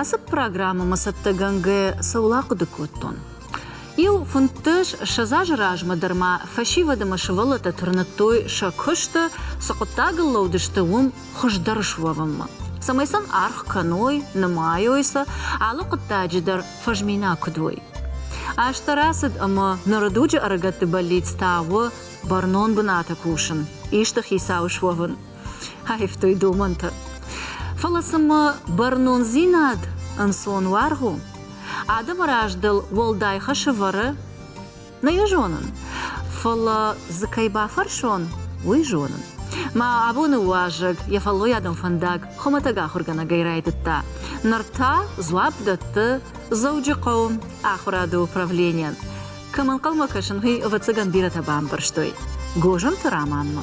Ацы программӕмӕ цӕттӕгӕнгӕ цӕуыл ахъуыды кодтон? Иу фынддӕс ссӕдз азы размӕ дӕр ма фӕсивӕд ӕмӕ сывӕллӕттӕ тырныдтой сӕ куысты, цы хъуыддагыл лӕудысты, уым хуыздӕр суӕвынмӕ. Цӕмӕй сын аргъ кӕной, нымайой сӕ, алы хъуыддаджы дӕр фӕзминаг куыд уой. Аз та рацыд ӕмӕ ныры дуджы ӕрыгӕтты бӕллиц та у бӕрнон бынаты кусын, исты хицау суӕвын. аивтой домӕнтӕ. Фӕлӕ цымӕ бӕрнондзинад ӕнцон уаргъ у? Адӕмы раз дыл уӕлдай хӕсы вӕры? Нӕ йӕ зонын, фӕлӕ дзы кӕй бафӕрсон, уый зонын. Мӕ абоны уазӕг йӕ фӕллойадон фӕндаг хуымӕтӕг ахуыргӕнӕгӕй райдыдта. Ныр та дзуапп дӕтты Дзӕуджыхъӕуы ахуырады управленийӕн. Кӕм ӕнхъӕлмӕ кӕсын, уый ӕвӕццӕгӕн бирӕтӕ бамбӕрстой Гозымты Раманмӕ.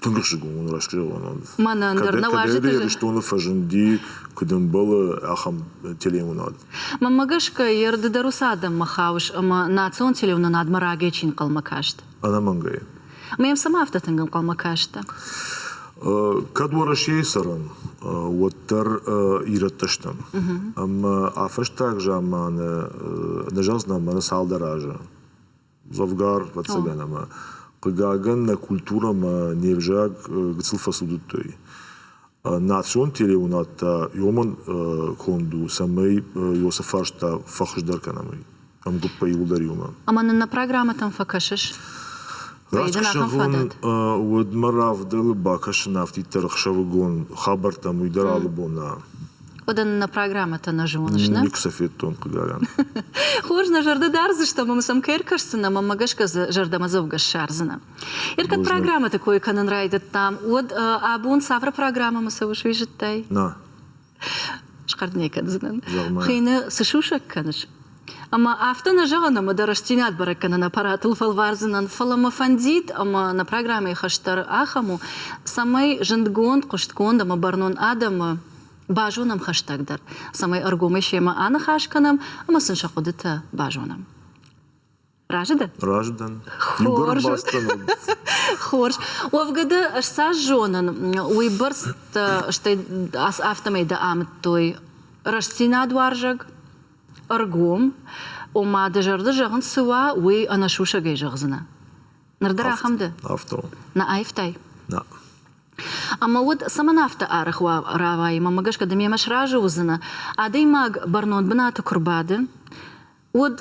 Тынг хъуысдӕгон уын расскажӕуӕнад. Мӕнӕн дӕр нӕ уарзы. Кӕд Ирыстоны фӕзынди, куыд ӕмбӕлы, ахӕм телеуынад. Мӕнмӕ гӕсгӕ, йе рды дӕр уыцы адӕммӕ хауыс ӕмӕ национ телеуынынадмӕ рагӕй чи нхъӕлмӕ каст? Ӕнӕмӕнгӕй. Мӕм цӕмӕ афтӕ тынг ӕнхъӕлмӕ кастӕ? Кӕд Уӕрӕсейы цӕрӕм, уӕддӕр ирӕттӕ стӕм. Ӕмӕ афӕстаг заманы нӕ зазнамӕны цалдӕр азы дзӕвгар, ӕвӕццӕгӕн, ӕмӕ, хъыгагӕн, нӕ культурӕ ӕмӕ не взаг гыццыл фӕцудыдтой. Национ телеуынад та иомӕн конд у, цӕмӕй Иосиф фарста фӕхуыздӕр кӕнӕм уый ӕмгуыппӕй иуылдӕр иумӕ. Ӕмӕ нын нӕ программӕтӕм фӕкӕсыс? Раст ӕхсӕвон уӕдмӕ равдӕлы бакӕсын афтиддӕр ӕхсӕвыгон хабӕрттӕм, уый дӕр алы бон нӕ. Уӕдӕ нын нӕ программӕтӕ нӕ зоныс, нӕ? Никуы сӕ федтон, хъыгагӕн. Хорз, нӕ зӕрдӕ дардзыстӕм, ӕмӕ сӕм кӕй ӕркӕсдзынӕ, ӕмӕ мӕ гӕсгӕ дзы зӕрдӕмӕдзӕугӕ ссардзынӕ. Ӕркӕд программӕты кой кӕнын райдыдтам, уӕд абон цавӕр программӕмӕ цӕуы суизыдтай? На. Схӕрд нӕ кӕндзынӕн. Хины цы сусӕг кӕныс? Ӕмӕ афтӕ нӕ зӕгъын, ӕмӕ дӕ рӕстдзинад бӕрӕг кӕнын аппаратыл фӕлвардзынӕн, фӕлӕ мӕ фӕндид, ӕмӕ нӕ программӕйы хӕс дӕр ахӕм у, цӕмӕй зындгонд, хъуыстгонд ӕмӕ бӕрнон адӕмы базонӕм хӕстӕгдӕр, цӕмӕй ӕргомӕй семӕ аныхас кӕнӕм ӕмӕ сын сӕ хъуыдытӕ базонӕм. Разы дӕн? Разы дӕн. Хорз. Хорз. Уӕвгӕды ӕз цас зонын, уыйбӕрц стӕй афтӕмӕй дӕ амыдтой рӕстдзинадуарзаг, ӕргом, ома дӕ зӕрды зӕгъын цы уа, уый ӕнӕсусӕгӕй зӕгъдзынӕ. Ныр дӕр ахӕм дӕ? Афтӕ. Нӕ аивтай? Нӕ. Ӕмӕ уӕд цӕмӕн афтӕ арӕх равайы? Мӕнмӕ гӕсгӕ, ды мемӕ сразы уыдзынӕ. Адӕймаг бӕрнон бынаты куы рбады, Уыд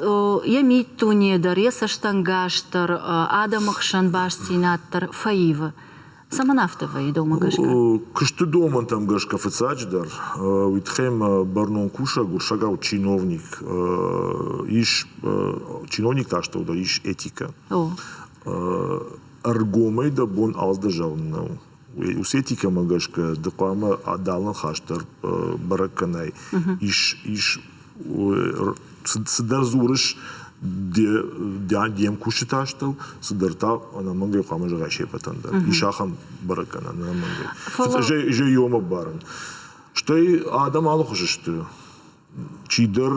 йӕ миддуне дӕр, йӕ цӕстӕнгас дӕр адӕмы хсӕн бастдзинад дӕр фӕивы. Цӕмӕн афтӕ вӕййы домӕ гӕсгӕ? Куысты домӕнтӕм гӕсгӕ фыццаджыдӕр, уый тыххӕй бӕрнон кусӕг, уырсӕгау чиновник, ис чиновник та стӕвдӕр ис этикӕ. Ӕргомӕй дӕ бон алдӕр зӕгъын нӕу. Усетикӕмӕ гӕсгӕ ды хъуамӕ адалын хӕс дӕр бӕрӕг кӕнай. Ис ис цыдӕр дзурыс де мкусджыты астӕу, цыдӕр та ӕнӕмӕнгӕй хъуамӕ зӕгъай се ппӕтӕн дӕр. Ис ахӕм бӕрӕг гӕнӕн ӕнӕмӕнгӕй. Зӕй ӕмбарын. Стӕй адӕм алыхуызы сты. Чидӕр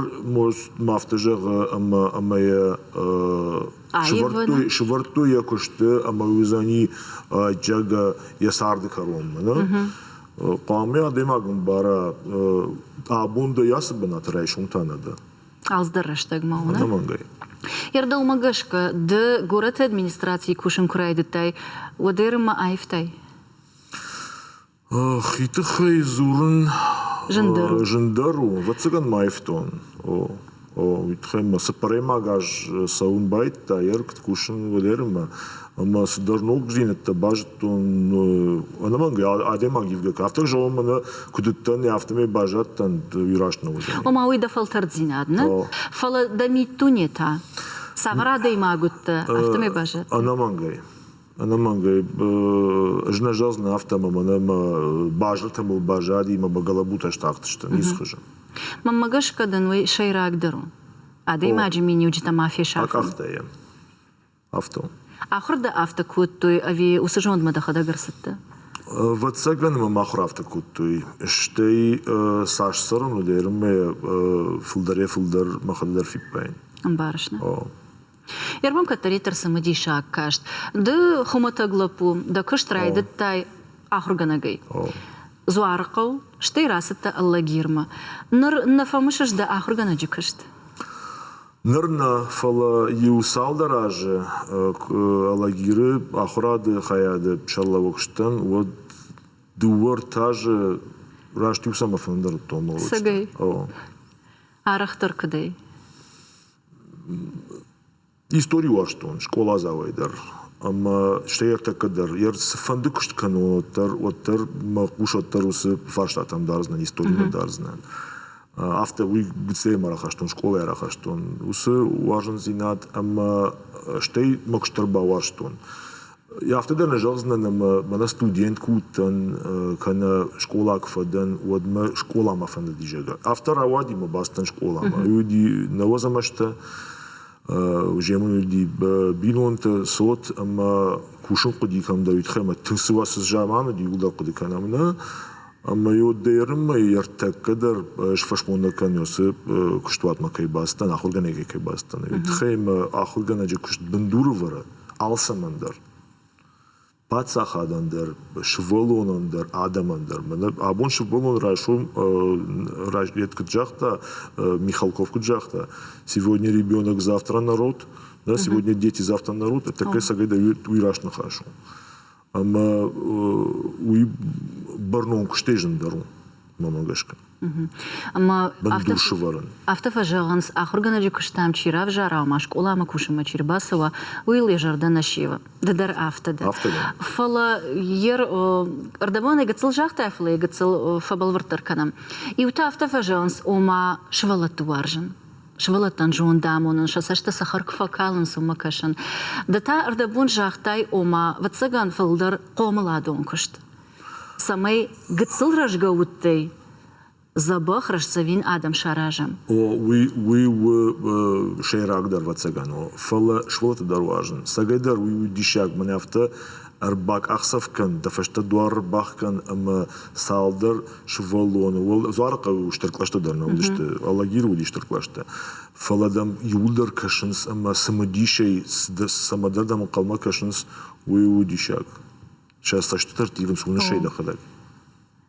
ма афтӕ зӕгъы, ӕмӕ ӕмӕ йӕ сывӕрдтой йӕ куысты ӕмӕ уый уыдзӕни ӕдджиаг йӕ царды кӕронмӕ, нӕ? Хъуамӕ адӕймаг ӕмбара, абон дӕ ацы бынаты райсом та нӕ дӕ. Ӕлдздӕр рӕстӕгмӕ у, нӕ? Ӕнӕмӕнгӕй. Йӕ рдӕумӕ гӕсгӕ, ды горӕты администрацийы кусын куы райдыдтай, уӕд ӕрымӕ аивтай? Хи тыххӕй дзурын зындӕр у. Ӕвӕццӕгӕн ма ивтон. О, о, уый тыххӕй мӕ цыппӕрӕймаг аз цӕуын байдыдта йӕ рыгт кусын Валеримӕ ӕмӕ цыдӕр ногдзинӕдтӕ базыдтон ӕнӕмӕнгӕй адӕймаг ивгӕ кӕфтӕг зӕгъон мӕ нӕ куыд уыдтӕн, афтӕмӕй баззадтӕн раст ногзӕнӕн. Ома уый дӕ фӕлтӕрддзинад нӕ, фӕлӕ дӕ миддуне та цавӕр адӕймаг уыдтӕ, афтӕмӕй баззад. Ӕнӕмӕнгӕй. ӕнӕмӕнгӕй ӕз нӕ зӕгъдзынӕн афтӕмӕ мӕнӕ мӕ базыртӕ мыл базади мӕ мӕ гӕлӕбутӕ стахтысты низ хызы мӕнмӕ гӕсгӕ дын уый сӕйрагдӕр у адӕймаджы миниуджытӕ ма фесафын акъахтӕ йӕ афтӕ ахуыр дӕ афтӕ кодтой ӕви уыцы зондмӕ дӕхӕдӕг ӕрцыдтӕ Вӕццӕгӕн ма мах ахуыр афтӕ кодтой, стӕй цас цӕрын уыд, ӕрмӕ фылдӕрӕй фылдӕр мӕхӕдӕг дӕр фиппайын. Ӕмбарыс нӕ? Ервон кӕддӕриддӕр цымыдисаг каст. Ды хуымӕтӕг лӕппу, дӕ куыст райдыдтай ахуыргӕнӕгӕй. Дзуарыхъӕу, стӕй рацыдтӕ Ӕллагирмӕ. Ныр нӕ фӕмысыс дӕ ахуыргӕнӕджы куыст? Ныр нӕ, фӕлӕ иу цалдӕр азы Ӕллагиры ахуырады хайады сӕргълӕууӕг сдӕн, уӕд дыууӕ-ӕртӕ азы раст иу саммер фӕндӕр уыдтон молодчикӕн. Цӕгӕй. Арӕхдӕр куыдӕй? Истори уарзтон скъоладзауӕй дӕр ӕмӕ стӕй ӕртӕккӕ дӕр. Цыфӕнды куыст кӕнон уӕддӕр, уӕддӕр мӕ хъусӕд дӕр уыцы фарстатӕм дардзынӕн, историмӕ дардзынӕн. Афтӕ уый гыццылӕй ма рахастон, скъолайы рахастон уыцы уарзондзинад ӕмӕ стӕй мӕ куыст дӕр бауарзтон. Афтӕ дӕр нӕ зӕгъдзынӕн ӕмӕ мӕнӕ студент куы уыдтӕн, кӕнӕ скъола куы фӕдӕн, уӕд мӕ скъола мӕ фӕнды дизӕгӕр. Афтӕ рауади мӕ бацыдтӕн скъоламӕ. Уыди нӕуӕдз ӕмӕстӕ, земын уыди бинонтӕ, цот ӕмӕ кусын хъуыди кӕмдӕр уый тыххӕй, ӕмӕ тынг цы уа, цы заман уыди, уыдон хъуыды кӕнӕм нӕ. Ӕмӕ йод дӕ Ӕрыммӕйы ӕртӕккӕ дӕр ӕз фӕсмондӕр кӕнон, уыцы куыстуатмӕ кӕй бацыдтӕн, ахуыргӕнӕгӕй кӕй бацыдтӕн. Уый тыххӕй мӕ ахуыргӕнӕджы куыст бындурывӕрӕн алцӕмӕн дӕр. паддзахадӕн дӕр, сывӕллонӕн дӕр, адӕмӕн дӕр. Абон сывӕллон райсом куыд загъта, Михалков куыд загъта, сегодня ребенок, завтра народ, да, сегодня дети, завтра народ, это такая сагайда уй раст ныхас у. ӕмӕ уый бӕрнон куыстӕй зындӕр у, мӕмӕ гӕсгӕ. Ӕмӕ бындур сывӕрын. Афтӕ фӕзӕгъынц, ахуыргӕнӕджы куыстӕм чи равзара, ома скъоламӕ кусынмӕ чи рбацӕуа, уый ыл йӕ зӕрдӕ нӕ сивы. Ды дӕр афтӕ дӕ. Афтӕ дӕ. Фӕлӕ йе рдӕбон ӕй гыццыл загътай, фӕлӕ йӕ гыццыл фӕбӕлвырддӕр кӕнӕм. Иутӕ афтӕ фӕзӕгъынц, ома сывӕллӕтты уарзын. сывӕллӕттӕн зондамонын, сӕ цӕстӕ цӕхӕр куы фӕкалынц, уымӕ кӕсын. Ды та ӕрдӕбон загътай, ома, ӕвӕццӕгӕн фылдӕр хъомыладон куыст. Цӕмӕй гыццыл рӕзгӕ удтӕй дзӕбӕх рӕстдзӕвин адӕм саразӕм. О, уый, уый у сӕйрагдӕр, ӕвӕццӕгӕн, фӕлӕ сывӕллӕтты дӕр уарзын. Цӕгӕйдӕр уый у диссаг, мӕн афтӕ Ӕрбакъахдзӕф кӕн, дӕ фӕстӕ дуар ӕрбах кӕн ӕмӕ цалдӕр сывӕллоны, уал Дзуарыхъӕуы стыр кълӕстӕ дӕр нӕ уыдысты, Алагиры уыди стыр кълӕстӕ. Фӕлӕ дӕм иууылдӕр кӕсынц ӕмӕ цымыдисӕй цӕмӕдӕр дӕм ӕнхъӕлмӕ кӕсынц, уый у диссаг. Сӕ цӕстытӕ рттивынц уынысӕй дӕхӕдӕг.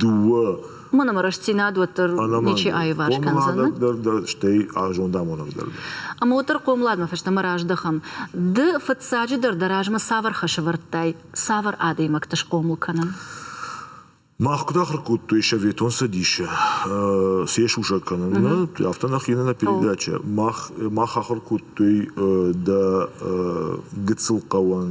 дууӕ Ма нӕма рӕстдзинад уӕддӕр ничи аиварс кӕндзӕн. стӕй зондамонӕг дӕр. Ӕмӕ уӕддӕр хъомыладмӕ фӕстӕмӕ раздӕхӕм. Ды фыццаджыдӕр дӕ размӕ цавӕр хӕсӕвӕрдтӕй, цавӕр адӕймӕгты схъомыл кӕнын? Мах куыд ахуыр кодтой Советон Цӕдисы, се сусӕг кӕнынмӕ, афтӕ нӕхи нӕ передачӕ. Мах мах ахуыр кодтой дӕ гыццыл хъӕуӕн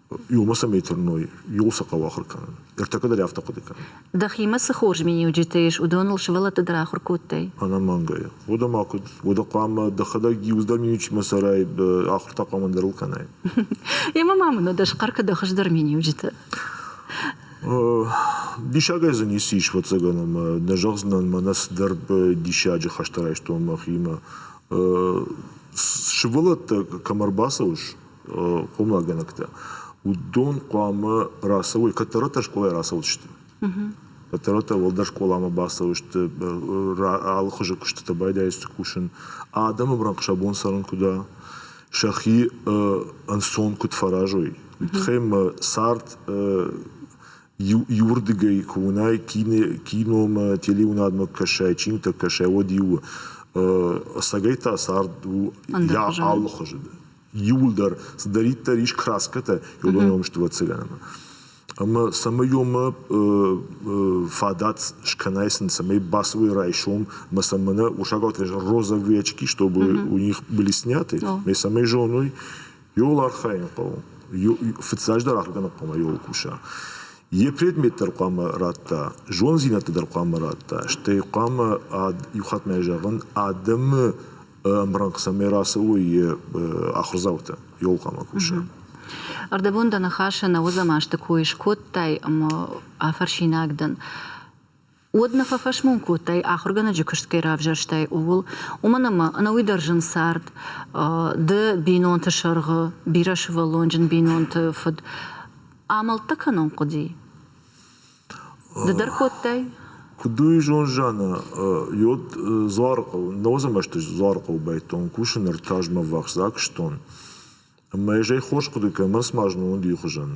иумӕ цӕмӕй тырной, иуыл сӕ хъӕуы ахуыр кӕнын. Ӕртӕккӕ дӕр афтӕ хъуыды кӕнын. Дӕхимӕ цы хорз миниуджытӕ ис, уыдоныл сывӕллӕтты дӕр ахуыр кодтай? Ӕнӕмӕнгӕйӕ. Уӕдӕ ма куыд? Уӕдӕ хъуамӕ дӕхӕдӕг иуцдӕр миниуджытмӕ цӕрай, ахуыр та хъуамӕ ӕндӕрыл кӕнай. Емӕ ма мын уӕдӕ схъӕр кӕ дӕ хуыздӕр миниуджытӕ. Диссагӕй дзы ницы ис, ӕвӕццӕгӕн, ӕмӕ нӕ зӕгъдзынӕн мӕнӕ цыдӕр диссаджы хӕстӕ райстон мӕхимӕ. Сывӕллӕттӕ кӕм ӕрбацӕуыс, хъомагӕнӕгтӕ, уыдон хъуамӕ рацӕуой, кӕддӕртӕ скъолайы рацӕудзысты. Кӕддӕртӕ уӕлдӕр скъоламӕ бацӕуысты, алы хуызы куыстытӕ байдайдзысты кусын. Адӕмы брӕнхъ сӕ бон цӕрын куыд уа, сӕхи ӕнцон куыд фӕразой, уый тыххӕй мӕ цард иу, иуырдыгӕй куы уынай, кино, киномӕ, телеуынадмӕ куы кӕсай, чинтӕ кӕсай, уӕд иу ӕцӕгӕй та цард у алы хуызы. иууылдӕр цыдӕриддӕр ис краскӕтӕ йодонон стывӕццӕгӕнӕнмӕ. Ӕмӕ цӕмӕй омӕ фадат скӕнай сын, цӕмӕй бацӕуой райсом, ӕмӕ сӕ мӕнӕ урсагау розовые очки, чтобы у них были сняты, мӕ цӕмӕй зоной, йол архайын хъӕуы, фыццаджыдӕр ахуыр кӕнын хъӕуы йол куса. Йе предмет дӕр хъуамӕ радта, зондзинӕдтӕ дӕр хъуамӕ радта, стӕй хъуамӕ иу хатт ма зӕгъын, адӕмы ӕмрӕнхъ цӕмӕй рацӕуы йӕ ахуырдзаутӕ ёлкъамӕ кусӕн. Ӕрдӕбон дӕ ныхасы нӕ уыдзӕн азты кой скодтай ӕмӕ афӕрсинаг дӕн. Уӕд нӕ фӕфӕсмон кодтай, ахуыргӕнӕджы куыст кӕй равзӕрстай, ууыл, уымӕн ӕмӕ ӕнӕуый дӕр зын цард, ды бинонты сӕргъы, бирӕсывӕллонджын бинонты фыд, амӕлттӕ кӕнон хъуыди. Ды дӕр кодтай? Куыд у ирон зианы йод Дзуарыхъӕуы, Нӕуӕдзӕмӕсты Дзуарыхъӕуы бӕттон кусын ӕртӕазмӕ ӕввахс акуыстон. Ӕмӕ ӕз ӕй хорз хъуыды кӕнын, ӕрмӕст ма зын уыд ихуызӕн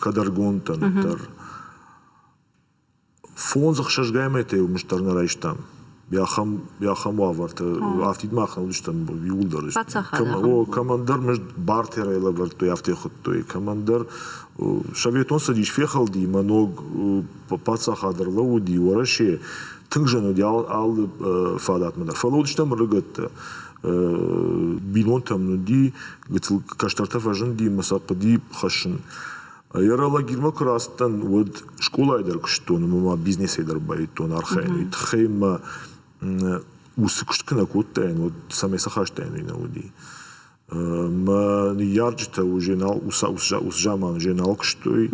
кадӕргондтӕ ныддӕр. фондз ӕхсӕзгай метрӕй мыст дӕр нӕ райстам ахӕм уавӕрты афтид мах нӕ уыдыстӕм иууылдӕр о кӕмӕндӕр мызд бартерӕй лӕвӕрдтой афтӕ хуыдтой кӕмӕндӕр советон цӕдис фехӕлди мӕ ног паддзахад ӕрлӕууыди уӕрӕсе тынг зын уыди алы фадатмӕ дӕр фӕлӕ уыдыстӕм рыгӕттӕ бинонтӕм уыди гыццыл кӕстӕртӕ фӕзынди мӕ сӕ хъуыди хӕссын Аэролагерьмӕ куы рацыдтӕн, уӕд скъолайы дӕр куыстон ӕмӕ ма бизнесӕй дӕр баивтон архайын. Уый тыххӕй мӕ ус куыст куы нӕ кодтаин, уӕд цӕмӕй цы хастӕйнаг нӕ уыди. Мӕ ныййарджытӕ уже нал уыцы уыцы заманы уже нал куыстой,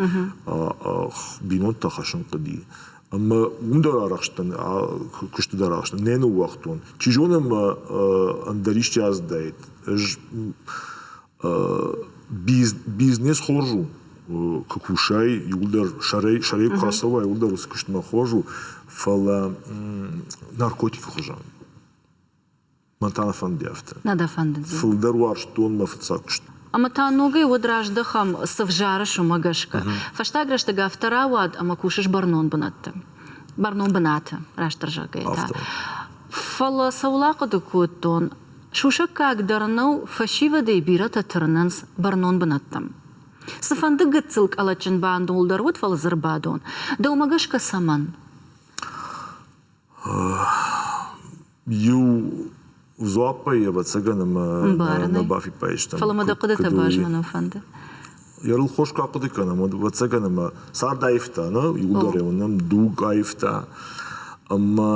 бинонтӕ хӕссын хъуыди. Ӕмӕ уым дӕр арӕхстӕн, куысты дӕр арӕхстӕн. Нӕ ныууагътон. Чи зоны мӕ ӕндӕр исчи аздаид. Ӕз бизнес хорз у куы кусай иуылдӕр сӕрӕй сӕрӕй куы ацӕуай уыддӕр уыцы куыстмӕ хорз у фӕлӕ наркотикы хуызӕн мӕн та нӕ фӕнды афтӕ нӕ дӕ фӕндыд фылдӕр уарзтон мӕ фыццаг куыст ӕмӕ та ногӕй уӕд раздӕхӕм цы взарыс уымӕ гӕсгӕ фӕстаг рӕстӕг афтӕ рауад ӕмӕ кусыс бӕрнон бынӕтты бӕрнон бынаты растдӕр зӕгъгӕйӕ та фӕлӕ цӕуыл ахъуыды кодтон Сусӕггаг дӕр нӕу, фӕсивӕдӕй бирӕтӕ тырнынц бӕрнон бынӕттӕм. Цыфӕнды гыццыл къӕлӕтджын бандон дӕр уыд, фӕлӕ дзырбадон. Дӕумӕ гӕсгӕ цӕмӕн? Иу дзуаппӕй, ӕвӕццӕгӕн, ӕмӕ нӕ бафиппайстам. Фӕлӕ мӕ дӕ хъуыдытӕ базмӕнын фӕнды. Ерыл хос куы ахъуыды кӕнӕм, уӕд ӕвӕццӕгӕн ӕмӕ цард аивта, нӕ? Иударӕон нӕм дуг аивта. Ӕмӕ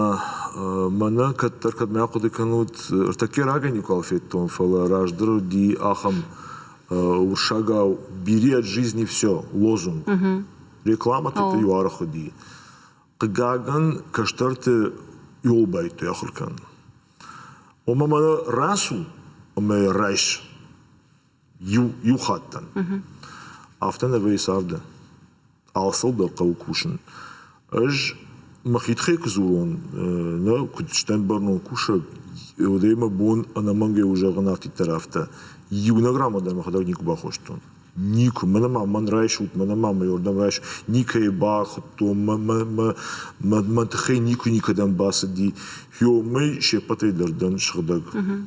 мӕнӕ кӕддӕр кӕдмӕ ахъуыды кӕнут, ӕртӕккӕ рагӕй никуал федтон, фӕлӕ раздӕр уыди ахӕм урсагау «бери от жизни все, лозунг». Рекламӕ тыты-иу аргъ уыди. Хъыгагӕн, кӕстӕрты иолбӕйттой ахуыр кӕнын. Ома мӕнӕ рацу ӕмӕ йӕ райс. иу, иу хатт дӕн. Мгм. Афтӕ нӕвӕййы царды. Алцыдӕр хъӕуы кусын. Ӕз мӕхи тыххӕй куы дзурон, э, нӕ куыд стӕм бӕрнон кусӕг, уӕдӕй мӕ бон ӕнӕмӕнгӕй у зӕгъын афтиддӕр афтӕ. Иунӕг рамадӕн мӕхӕдӕг никуы бахостон. Никуы. Мӕнӕ ма мӕн райсут, мӕнӕ ма мӕ уырдӕм райс. Никӕйы бахуыдтон, мӕ, мӕ, мӕ, мӕ, мӕ тыххӕй никуы никӕдӕм бацыди. Хё, мӕй се ппӕтӕй дӕр дӕн сыгъдӕг. Мгм.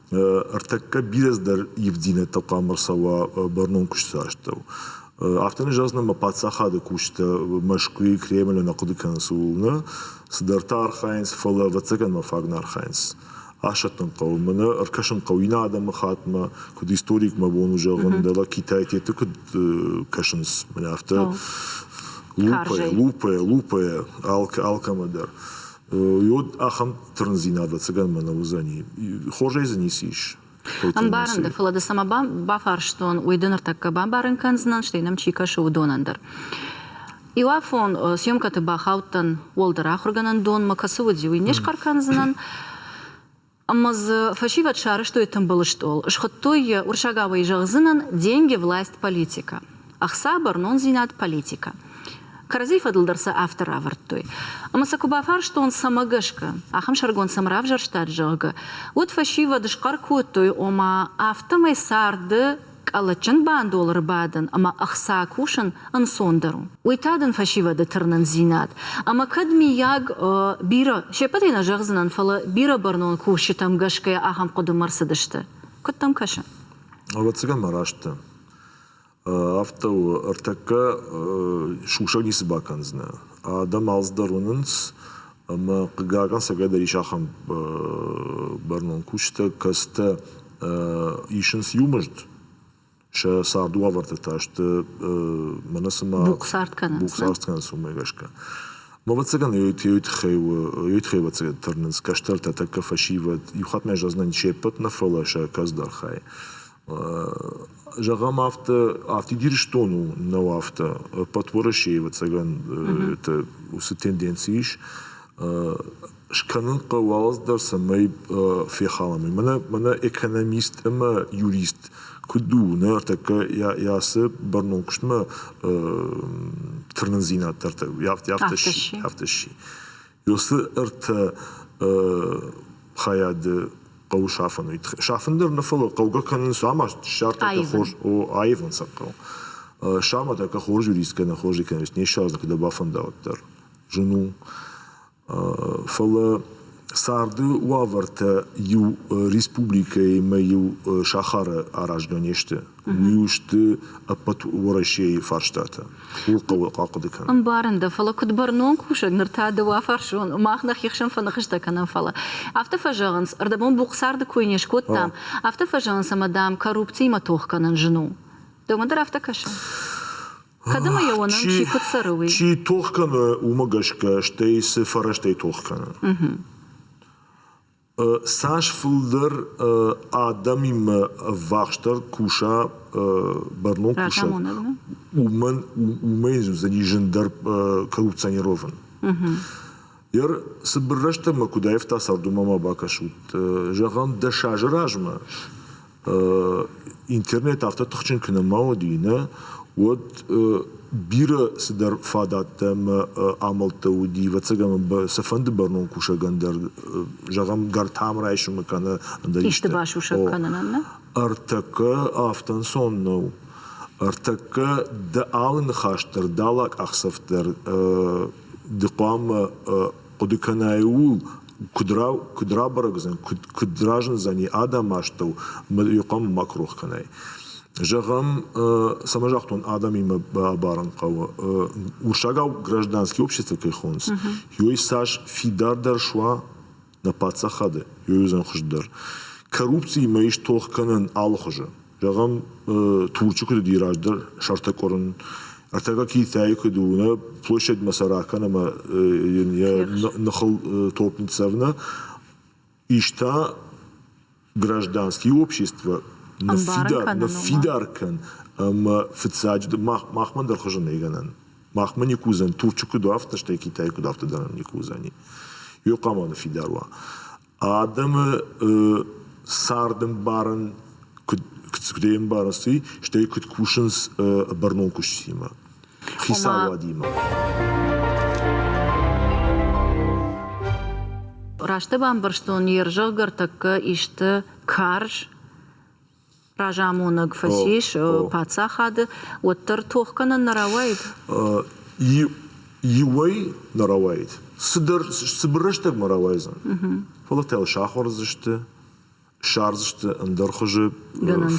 Ӕртӕккӕ бирӕ дӕр ивддзинӕдтӕ хъуамӕ ӕрцӕуа бӕрнон куысты астӕу. Афтӕ ныв зӕгъдзынӕн мӕ паддзахады кусджытӕ Мӕскуыйы Кремлы нӕ хъуыды кӕнынц ууыл нӕ, цыдӕртӕ архайынц, фӕлӕ ӕвӕццӕгӕн мӕ фаг нӕ архайынц. Асӕттын хъӕуы, мӕнӕ ӕркӕсын хъӕуы иннӕ адӕмыхаттмӕ, куыд историк мӕ бон у зӕгъын, дӕлӕ Китай теты куыд кӕсынц, мӕнӕ афтӕ лупайӕ, лупайӕ, лупайӕ, алкӕмӕ дӕр. уый уыд ахӕм тырндзинад, ӕцӕгӕнмӕ нӕ уыдзӕни. Хорзӕй дзы ницы ис. Ӕмбарын дӕ, фӕлӕ дӕ цӕмӕ бафарстон, уый ды ныртӕккӕ бамбарын кӕндзынӕн, стӕй нӕм чи кӕсы, уыдонӕн дӕр. Иуафон съемкӕты бахаудтӕн, уӕлдӕр ахуыргӕнӕндонмӕ кӕцы уыди, уый не схъӕр кӕндзынӕн. Ӕмӕ дзы фӕсивӕд сарӕзтой тымбыл стъол, схуыдтой йӕ уырсагауӕй зӕгъдзынӕн Деньги, власть, политика, ӕхца, бӕрнондзинад, политика. Кӕрӕдзийы фӕдыл дӕр сӕ афтӕ равӕрдтой. Ӕмӕ сӕ куы бафарстон, цӕмӕ гӕсгӕ ахӕм сӕргонд цӕм равзӕрстат, зӕгъгӕ, уӕд фӕсивӕд схъӕр кодтой, ома, афтӕмӕй царды къӕлӕтджын бандол ӕрбадын ӕмӕ ӕхца кусын ӕнцондӕр у. Уый та дын фӕсивӕды тырнындзинад ӕмӕ кӕд, миййаг, бирӕ се ппӕтӕй нӕ зӕгъдзынӕн, фӕлӕ бирӕ бӕрнон кусджытӕм гӕсгӕ ахӕм хъуыдымӕ ӕрцыдысты. Куыд дӕм кӕсы? Ӕвӕццӕгӕн ма раст дӕ. Афтӕ у, ӕртӕккӕ сусӕг ницы бакӕндзынӕ. Адӕм алцыдӕр уынынц, ӕмӕ, хъыгагӕн, сӕгӕй дӕр ис ахӕм бӕрнон кусджытӕ, кӕцытӕ исынц иу мызд, сӕ царды уавӕрты та сты мӕнӕ цыма бухъцард кӕнынц, бухъцард кӕнынц уымӕ гӕсгӕ. Ма ӕвӕццӕгӕн ёй тыххӕй у ёй тыххӕй ӕвӕццӕгӕн тырнынц кӕстӕртӕ тӕккӕ фӕсивӕд. Иу хатт мӕ зӕгъынӕн се ппӕт нӕ фӕлӕ сӕ кӕцдӕр хай. Зӕгъӕм афтӕ, афтид Ирыстон у нӕу афтӕ, ӕппӕт Уӕрӕсе ӕвӕццӕгӕн уыцы тенденци ис. скӕнын хъӕуы алцыдӕр, цӕмӕй фехалӕм. Мӕнӕ экономист ӕмӕ юрист куыд у ныртӕккӕ ацы бӕрнон куыстмӕ тырнындзинад дӕр афтӕ сси. Уыцы ӕртӕ хайады хъӕуы сафын уый. Сафын дӕр нӕ фӕлӕ хъӕугӕ кӕнын самас диссертаци хорз аивын сӕ хъӕуы. Саматӕ хорз юрист кӕнӕ хорз экономист не ссардзӕн, куыд бафӕнда уӕддӕр. Зын у. Фӕлӕ царды уавӕртӕ иу республикӕимӕ-иу сахары аразгӕ не сты. Уый у сты ӕппӕт Уӕрӕсейы фарстатӕ. Ууыл хъӕуы ахъуыды кӕнын. Ӕмбарын дӕ, фӕлӕ куыд бӕрнон кусӕг, ныр та дыууӕфарсон, мах нӕхи хсӕн фӕныхыстӕ кӕнӕм, фӕлӕ афтӕ фӕзӕгъынц, ӕрдӕбон бухъцарды кой не скодтам, афтӕ фӕзӕгъынц ӕмӕ, дам, коррупциимӕ тох кӕнын зын у. Дӕумӕ дӕр афтӕ кӕсы? Хъӕдымӕ йӕ уонӕн чи куыд цӕры, уый. Чи тох кӕны, уымӕ гӕсгӕ, стӕй цы фӕрӕзтӕй тох кӕны. Цас фылдӕр адӕмимӕ ӕввахсдӕр куса бӕрнон кусӕг, уымӕн уымӕй уыдзӕни зындӕр коррупционирован. Йӕ цыбыр рӕстӕгмӕ куыд аивта цардумӕ ма бакӕсут. Зӕгъӕм, дӕс азы размӕ интернет афтӕ тыхджын куы нӕма уыди нӕ, уӕд бирӕ цыдӕр фадӕттӕ ӕмӕ амӕлттӕ уыди, ӕвӕццӕгӕн цыфӕнды бӕрнон кусӕгӕн дӕр, зӕгъӕм, гӕртам райсуымы кӕнӕ ӕндӕр исты. Исты басусӕг кӕнынӕн нӕ? Ӕртӕккӕ афтӕ ӕнцон нӕу. Ӕртӕккӕ дӕ алы ныхас дӕр, дӕ алы къахдзӕф дӕр ды хъуамӕ Хъуыды кӕнай ууыл, куыд рабӕрӕгдзӕн, куыд разындзӕни адӕмы астӕу, ӕмӕ иу хъуамӕ ма куы рох кӕнай. Зӕгъӕм, цӕмӕ загътон, адӕмимӕ бабарын хъӕуы. Урсагау гражданские общества кӕй хонынц, ёй цас фидардӕр суа нӕ паддзахады, ёй уыдзӕн хуыздӕр. Коррупциимӕ ис тох кӕнӕн алыхуызы. Зӕгъӕм, Турчы куыд уыди раздӕр сӕртӕ къуырын, ӕртӕгӕ Китайы куыд у, нӕ площадьмӕ сӕ ракӕн ӕмӕ йын йӕ ныхыл топп ныццӕвна, ис та гражданские общества ныффидар, ныффидар кӕн ӕмӕ фыццаджы махмӕ дӕр хуызӕн нӕй гӕнӕн. Махмӕ никуы уыдзӕн, Турчы куыд у афтӕ, стӕй Китай куыд афтӕ дӕр ӕм никуы уыдзӕни. Иу хъама ныффидар уа. Адӕмы царды ӕмбарын куыд куыдӕй ӕмбарынц, уый, стӕй куыд кусынц бӕрнон куыстимӕ, хицауадимӕ. Рӕстӕг бамбӕрстон, йе рзӕгъгӕ ӕртӕккӕ исты карз разамонӕг фӕцис паддзахады, уӕддӕр тох кӕнын нӕ рауаид? Иуӕй нӕ рауаид. Цыдӕр цыбыр рӕстӕгмӕ рауайдзӕн. Фӕлӕ та йыл сахуырдзысты, ссардзысты ӕндӕр хуызы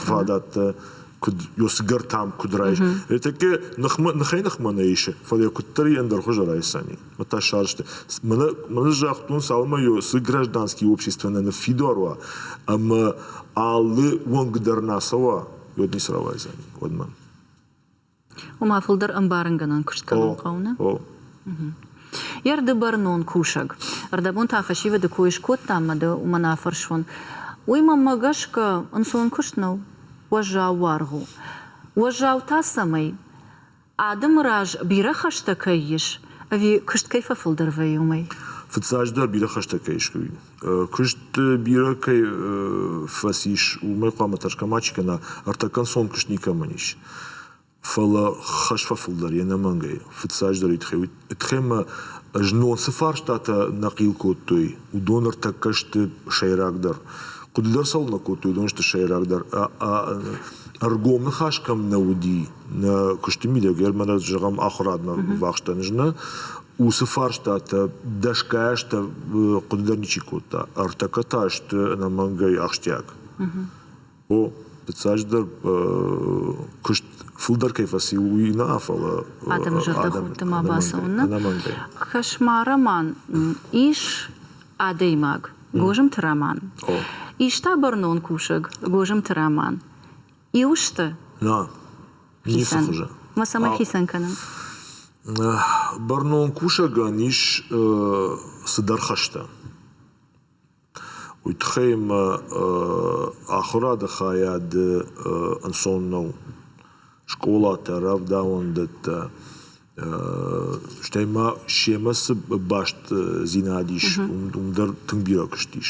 фадаттӕ, куыд йосы гӕртам куыд райс. Тӕккӕ ныхмӕ ныхӕй-ныхмӕ нӕ исы, фӕлӕ йӕ куыддӕр ӕндӕр хуызы райсӕни. та сӕрсты. Мын загътон, цалынмӕ цы гражданский общество нӕ ныффидар уа ӕмӕ алы уӕнг дӕр нӕ ацӕуа, уӕд ницы рауайдзӕни, уӕдмӕ. Уымӕ фылдӕр ӕмбарынгӕнӕн куыст кӕнын хъӕуы, нӕ? Йӕ рды бӕрнон кусӕг. Ӕрдӕбон та фӕсивӕды кой скодтам мӕ дӕ уымӕн афӕрсон. Уый мӕнмӕ гӕсгӕ ӕнцон куыст нӕу, уӕззау уаргъ у. Уӕззау та цӕмӕй? Адӕмы раз бирӕ хӕстӕ кӕй ис, ӕви куыст кӕй фӕфылдӕр вӕййы, уымӕй? Фыццаджыдӕр бирӕ хӕстӕ кӕй искуы у. Куыст бирӕ кӕй фӕцис, уымӕй хъуамӕ тӕрсгӕ мачи кӕна, ӕртӕкӕнцон куыст никӕмӕн ис. Фӕлӕ хӕс фӕфылдӕр йе нӕмӕнгӕй. Фыццаджыдӕр уый тыххӕй Тхемӕ знон цы фарстатӕ нӕ хъил кодтой, уыдон ӕртӕккӕ сты сӕйрагдӕр. Хъуыды дӕр цӕуылнӕ кодтой, уыдон сты сӕйрагдӕр. Ӕргом ныхас кӕм нӕ уыди, нӕ куысты мидӕгӕр мӕнӕ зӕгъӕм ахуырадмӕ ӕрбавӕхстӕн ӕз нӕ, уыцы фарстатӕ дӕсгай азтӕ хъуыды дӕр ничи кодта. Ӕртӕккӕ та сты ӕнӕмӕнгӕй ахсджиаг. О, фыццаджыдӕр куыст фылдӕр кӕй фӕци, уый нӕ, фӕлӕ адӕмы зӕрдӕхудты ма бацӕуын нӕ Кошмар роман ис адӕймаг Гозымты Роман, иста бӕрнон кусӕг Гозымты Роман. Иу сты? Нӕ, ницы хуызы. Ма цӕмӕй хицӕн кӕнӕм? Бӕрнон кусӕгӕн ис цыдӕр хӕстӕ. Уый тыххӕй ӕмӕ ахуырады хайады ӕнцон нӕу скъолатӕ, рӕвдауӕндӕттӕ, стӕй ма семӕ цы бастдзинад ис, уым дӕр тынг бирӕ куыст ис.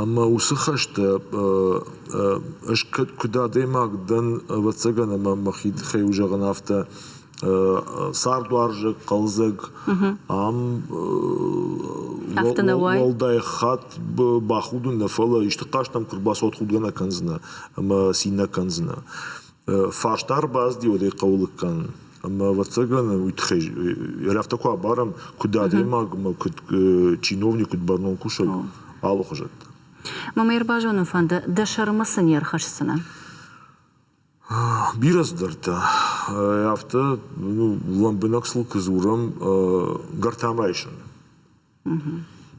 Ӕмӕ уыцы хӕстӕ ӕз куыд адӕймаг дӕн, ӕвӕццӕгӕн, ӕмӕ мӕхи тыххӕй у зӕгъын афтӕ, цардуарзаг, хъӕлдзӕг, ам уӕлдай хатт бахудын нӕ, фӕлӕ исты хъаст ӕм куы рбацӕуат, худгӕ нӕ кӕндзынӕ ӕмӕ цин нӕ кӕндзынӕ. Фарста ӕрбаздил, уӕдӕй хъӕуы кӕн. Ӕмӕ, ӕвӕццӕгӕн, уый тыххӕй я афтӕ куы абарӕм, куыд адӕймагмӕ, куыд чиновник, куыд бӕрнон кусӕг, алы хуызӕттӕ. Ма мӕ ӕрбазонын фӕнды, дӕ сӕрмӕ цы не рхӕсдзынӕ? Бирӕ цыдӕртӕ. Афтӕ лӕмбынӕг сыл куы дзурӕм, гӕртамӕ исыны.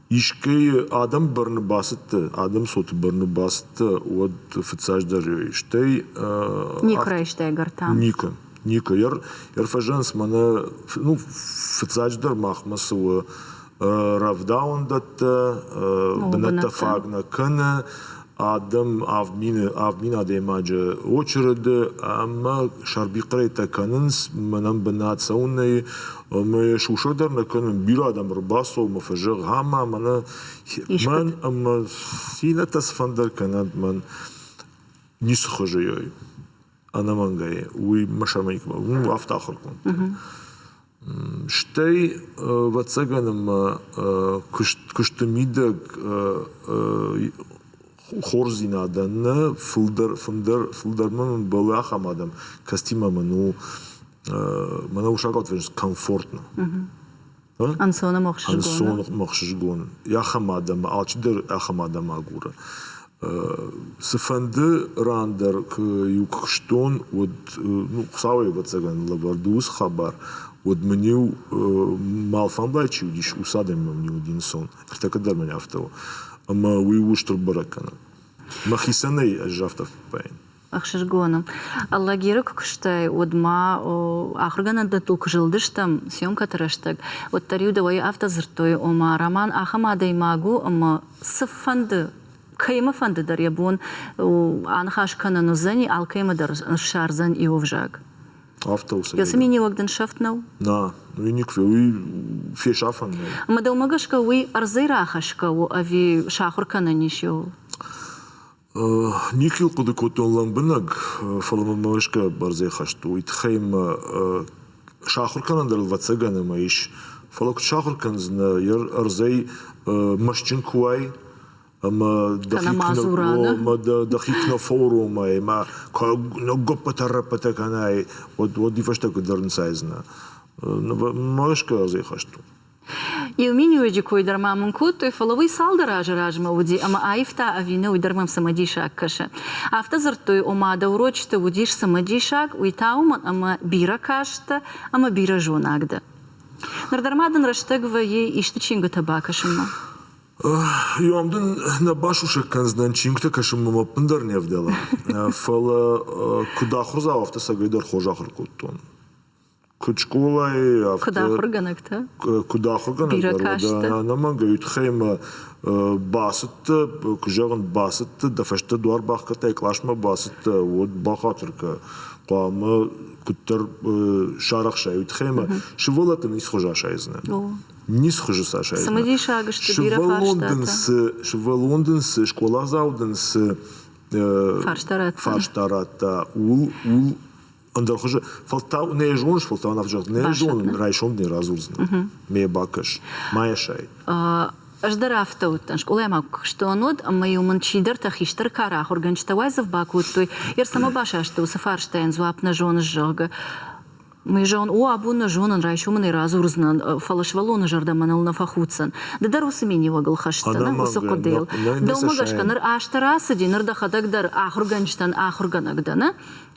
Искӕй адӕм бӕрны бацыдтӕ, адӕм цоты бӕрны бацыдтӕ, уӕд фыццаджыдӕр ёй стӕй Никуы райстай гӕртам? Никуы, никуы. Йӕ фӕзӕнынц мӕнӕ, ну, фыццаджыдӕр махмӕ цы у Рӕвдауӕндӕттӕ бынӕттӕ фаг нӕ кӕны адӕм авд мины авд мин адӕймаджы очереды ӕмӕ сӕрбихъырӕйттӕ кӕнынц мӕнӕн бынат цӕуынӕй ӕмӕ сусӕг дӕр нӕ кӕнын бирӕ адӕм ӕрбацӕуы мӕ фӕзӕгъ ӕмӕ мӕнӕ мӕн ӕмӕ иннӕтӕ цыфӕндӕр кӕнӕнт мӕн ницы хуызы ёй. ӕнӕмӕнгӕй уый Машамейкмӕ уым афтӕ ахуыр кодта. Стӕй ӕвӕццӕгӕн ӕмӕ куыст куысты мидӕг хорздзинадӕн нӕ фылдӕр фындӕр фылдӕрмӕ мын бӕлы ахӕм адӕм, кӕцытимӕ мын у мӕнӕ усакъад фӕзынд комфортно. Ӕнцонӕмӕхсызгон ахӕм адӕмы, алчидӕр ахӕм адӕмы агуры. Цыфӕнды ран дӕр куы-иу куыстон, уӕд, ну, Хуыцауӕй ӕвӕццӕгӕн лӕвӕрд у уыцы хабар, уӕд мын-иу мал фӕмбӕлд, чи уыдис, уыцы адӕмимӕ мын-иу уыди ӕнцон. Ӕртӕккӕ дӕр мын афтӕ у. Ӕмӕ уый устыр бӕрӕг кӕны. Мӕхицӕнӕй ӕз афтӕ фӕппайын. ӕхсызгоны. Лагеры куыстӕй уӕдмӕ ахуыргӕнӕндӕттыл куы зылдыстӕм съемкӕты рӕстӕг, уӕддӕр-иу дӕуӕй афтӕ дзырдтой, ома, Роман ахӕм адӕймаг у, ӕмӕ цыфӕнды кӕимӕфӕнды дӕр йӕ бон аныхас кӕнын уыдзӕни, алкӕимӕ дӕр ссардзӕн иу ӕвзаг. Афтӕ у. Йӕ цыминиуӕг дын сӕфт нӕу? Нӕ, уый никуы, уый фесафӕн нӕу. Мӕ дӕумӕ гӕсгӕ уый ӕрдзӕй рахӕсгӕ у ӕви сахуыр кӕнӕн ис йыл? Никуы йыл хъуыды кодтон лӕмбынӕг, фӕлӕ мӕнмӕ гӕсгӕ бӕрзӕй хӕст у. Уый тыххӕй мӕ сахуыр кӕнӕн дӕр ӕвӕццӕгӕн ӕмӕ ис. Фӕлӕ куыд сахуыр кӕндзынӕ йӕ ӕрдзӕй мӕстджын куы уай ӕмӕ дӕхи куы нӕ дӕхи куы нӕ фӕуромай ӕмӕ куы ныггоппытӕ-раппытӕ кӕнай, уӕд уӕдӕй фӕстӕ куыд дӕр нцайдзынӕ. Мӕ гӕсгӕ ӕрдзӕй хӕст у. Иу миниуӕджы кой дӕр ма мын кодтой, фӕлӕ уый цалдӕр азы размӕ уыди ӕмӕ аивта ӕви нӕ, уый дӕр мӕм цымыдисаг кӕсы. Афтӕ дзырдтой, ома дӕ урочыты уыдис цымыдисаг, уый та уымӕн, ӕмӕ бирӕ каст дӕ ӕмӕ бирӕ зонаг дӕ. Ныр дӕр ма дын рӕстӕг вӕййы исты чингуытӕ бакӕсынмӕ. Иом дын нӕ басусӕг кӕндзынӕн чингуытӕ кӕсынмӕ мӕ ӕппындӕр не вдӕла. Фӕлӕ куыд ахуырдзау, афтӕ сӕгӕй дӕр хорз ахуыр кодтон. Куыд скъолайы, афтӕ... Куыд ахуыргӕнӕгтӕ? Куыд ахуыргӕнӕг ӕнӕмӕнгӕй уый тыххӕй мӕ бацыдтӕ, куы зӕгъын, бацыдтӕ, дӕ фӕстӕ дуар бахгӕдтай, къласмӕ бацыдтӕ, уӕд бахатыр кӕ. Хъуамӕ куыддӕр сарӕхсай уый тыххӕй мӕ, сывӕллӕт дын ницы хуыз асайдзынӕ. Ницы хуызы сӕ асайдзынӕ. Цымыдисаг сты бирӕ фарстатӕ. Сывӕллон дын цы, скъоладзау дын цы фарста радта, ууыл ууыл ӕндӕр хуызы фӕлтау нӕ зоныс, фӕлтау нав зӕгъ, нӕ зонын, райсом дӕ радзурдзынӕ. Ме бакӕс, ма йӕ сай. Ӕз дӕр афтӕ уыдтӕн. Скъолайы ма куы куыстон уӕд, ӕмӕ-иу мын чидӕртӕ хистӕр кары ахуыргӕнджытӕ уайдзӕф бакодтой, Ер цӕмӕ басасты уыцы фарстайӕн дзуапп нӕ зоныс, зӕгъгӕ. Мый зӕгъын, О, абон нӕ зонын, райсом ын ӕй радзурдзынӕн, фӕлӕ сывӕллоны зӕрдӕ мӕныл нӕ фӕхуддзӕн. Ды дӕр уыцы миниуӕгыл хӕсдзӕ нӕ уыцы хъуыдыйыл. Дӕумӕ гӕсгӕ ныр азтӕ рацыди, ныр дӕхӕдӕг дӕр ахуыргӕнджытӕн ахуыргӕнӕг дӕ, нӕ?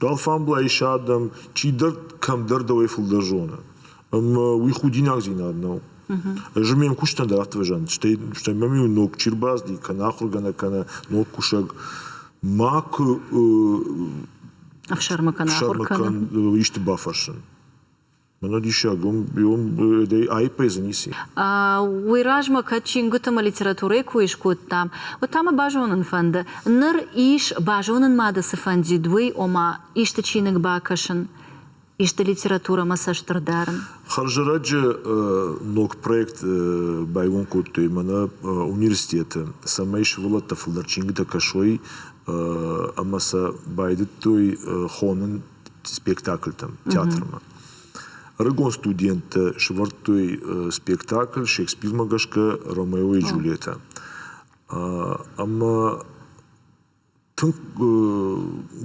Алфамблайы адӕм чидӕр кӕмдӕр дӕуӕй фылдӕр зоны. Ӕмӕ уый худинагдзинад нӕу. Ӕз ме мкусджытӕн дӕр афтӕ фӕзӕгъын, стӕй стӕй мӕм иу ног чи рбазди, кӕнӕ ахуыргӕнӕг, кӕнӕ ног кусӕг, макуы ӕхсӕрмӕ кӕнӕ ахуыр кӕнӕ исты бафӕрсын. Мӕнӕ диссаг, уым, уым аиппӕй дзы ници. Уый размӕ кӕд чингуытӕмӕ литературӕйы кой скодтам, уӕд та мӕ базонын фӕнды, ныр ис базонын мады цы фӕндид, уый, ома, исты чиныг бакӕсын, исты литературӕмӕ цӕстырд дарын. Хӕрзӕрӕджы ног проект байгом кодтой мӕнӕ университеты, цӕмӕй сывӕллӕттӕ фылдӕр чингуытӕ кӕсой ӕмӕ сӕ байдыдтой хонын спектакльтӕм, театрмӕ. Ӕрыгон студенттӕ сӕвӕрдтой спектакль Шекспирмӕ гӕсгӕ Ромео и Джульетта. Ӕмӕ тынг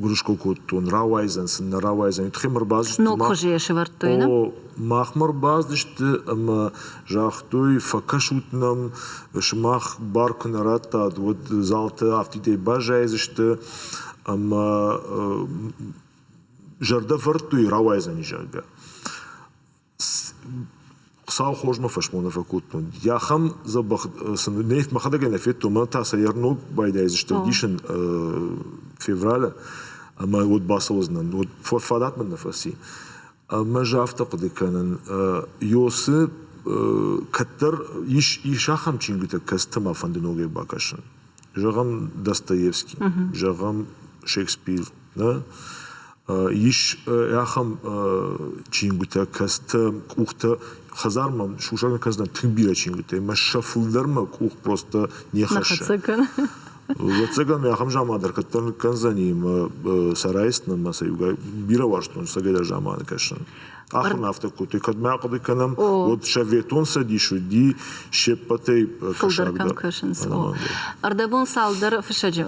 гуырысхо кодтон, рауайдзӕн сын, нӕ рауайдзӕн, уый тыххӕй ӕрбацыдысты. Ног хуызы йӕ сӕвӕрдтой, нӕ? О, махмӕ ӕрбацыдысты ӕмӕ Загътой, фӕкӕсут нӕм, сымах бар куы нӕ радтат, уӕд залты афтидӕй баззайдзысты ӕмӕ зӕрдӕвӕрдтӕй рауайдзӕни, зӕгъгӕ. Хуыцау хорзмӕ фӕсмон фӕкодтон. Ахӕм дзӕбӕх сын мӕхӕдӕг нӕ федтон, мӕнӕ та сӕ ӕр ног байдайдзысты ӕвдисӕн февралы ӕмӕ уӕд бацӕудзынӕн. Уӕд фадат мын нӕ фӕци. Ӕмӕ ӕз афтӕ хъуыды кӕнын, Иосы кӕддӕр ис ис ахӕм чингуытӕ, кӕцытӕ мӕ фӕнды ногӕй бакӕсын. Зӕгъӕм, Достоевский, зӕгъӕм, Шекспир, нӕ? Ис ахӕм чингуытӕ, кӕцытӕ къухтӕ хӕдзармӕ сусӕгӕн кӕндзынӕн тынг бирӕ чингуытӕ, ӕмӕ сӕ фылдӕр мӕ къух просто не хӕссы. Ӕвӕццӕгӕн, ахӕм заман дӕр кӕддӕр ныккӕндзӕни мӕ сӕраисдтынӕн мӕ сӕ иугай бирӕ уарзтон сӕдӕйдӕр заманы кӕсын. Ахуырмӕ афтӕ кодтой, кӕд ма хъуыды кӕнӕм, уӕд Советон Цӕдис уыди се ппӕтӕй кӕсагдӕр. Ӕрдӕбон цалдӕр фыссӕджы,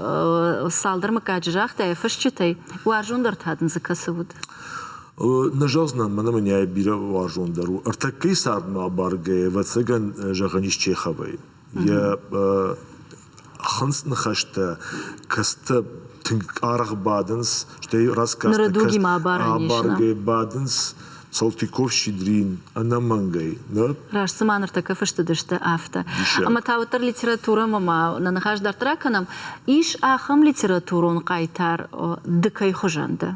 цалдӕр мыггаджы загътайы фысджытӕй, уарзондӕр та дын дзы кӕцы уыд? Нӕ зӕгъдзынӕн, мӕнӕ мӕнӕй бирӕ уарзондӕр у. Ӕртӕккӕйы цардмӕ абаргӕйӕ, ӕвӕццӕгӕн, зӕгъӕн ис Чеховӕй. йӕ хынц ныхӕстӕ кӕцытӕ тынг аргъ бадынц, стӕй рассказтӕ абаргӕ бадынц Салтыков, Щедрин ӕнӕмӕнгӕй. Нӕ? Раст цыма ныртӕккӕ фыстыдысты афтӕ. Ӕмӕ та уӕддӕр литературӕмӕ ма нӕ ныхас дарддӕр ракӕнӕм. Ис ахӕм литературон хъайтар ды кӕй хуызӕн дӕ?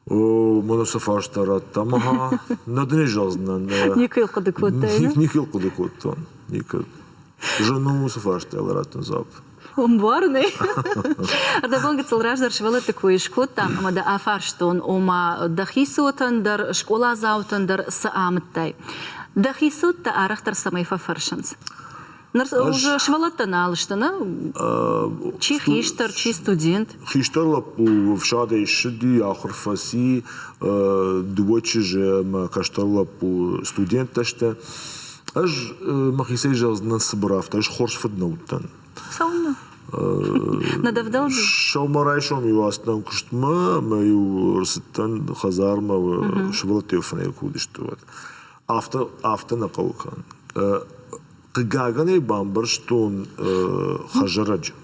О, мӕн сӕ фарста радта ӕмӕ ха нӕ дын ӕй зӕгъдзынӕн. Никуы йыл хъуыды кодтай? Никуы йыл хъуыды кодтон. Никуы. Зын мын уыцы фарстайыл радтын дзуапп. Омбарынӕй. Ӕрдӕбон гыццыл раздӕр сывӕллӕтты кой скодтам ӕмӕ дӕ афарстон, ома дӕхи цотӕн дӕр, скъоладзаутӕн дӕр цы амыдтай? Дӕхи цот дӕ арӕхдӕр цӕмӕй фӕфӕрсынц? Ныр уже сывӕллӕттӕ нал сты, нӕ? Чи хистӕр, чи студент? Хистӕр лӕппу ӕфсадӕй ссыди, ахуыр фӕци, дыууӕ чызджы ӕмӕ кӕстӕр лӕппу студенттӕ сты. Ӕз мӕхицӕй зӕгъдзынӕн цыбыр афтӕ, ӕз хорз фыд нӕ уыдтӕн. Цӕуылнӕ? Нӕ дӕвдӕлди? Сӕумӕрайсом-иу ацыдтӕн куыстмӕ, ӕмӕ-иу ӕрцыдтӕн хӕдзармӕ, сывӕллӕттӕ фынӕй куы уыдысты, уӕд. Афтӕ афтӕ нӕ хъӕуы кӕнын. Хъыгагӕн ӕй бамбӕрстон хӕзарӕджы.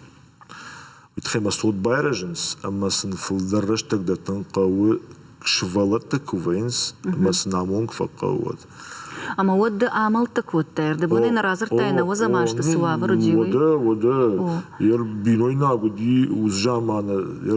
Уый тыххӕй мӕ цот байрӕзынц ӕмӕ сын фылдӕр рӕстӕг дӕттын хъӕуы сывӕллӕттӕ куы вӕййынц ӕмӕ сын амонг фӕхъӕуы уӕд. Ӕмӕ уӕд ды амӕлттӕ кодтай, ӕрдӕбонӕй нӕ радзырдтай ӕнӕуӕзӕм азты цы уавӕр уыди, уый? Уӕдӕ, уӕдӕ. Йӕ бинойнаг уыди, уыцы заманы йӕ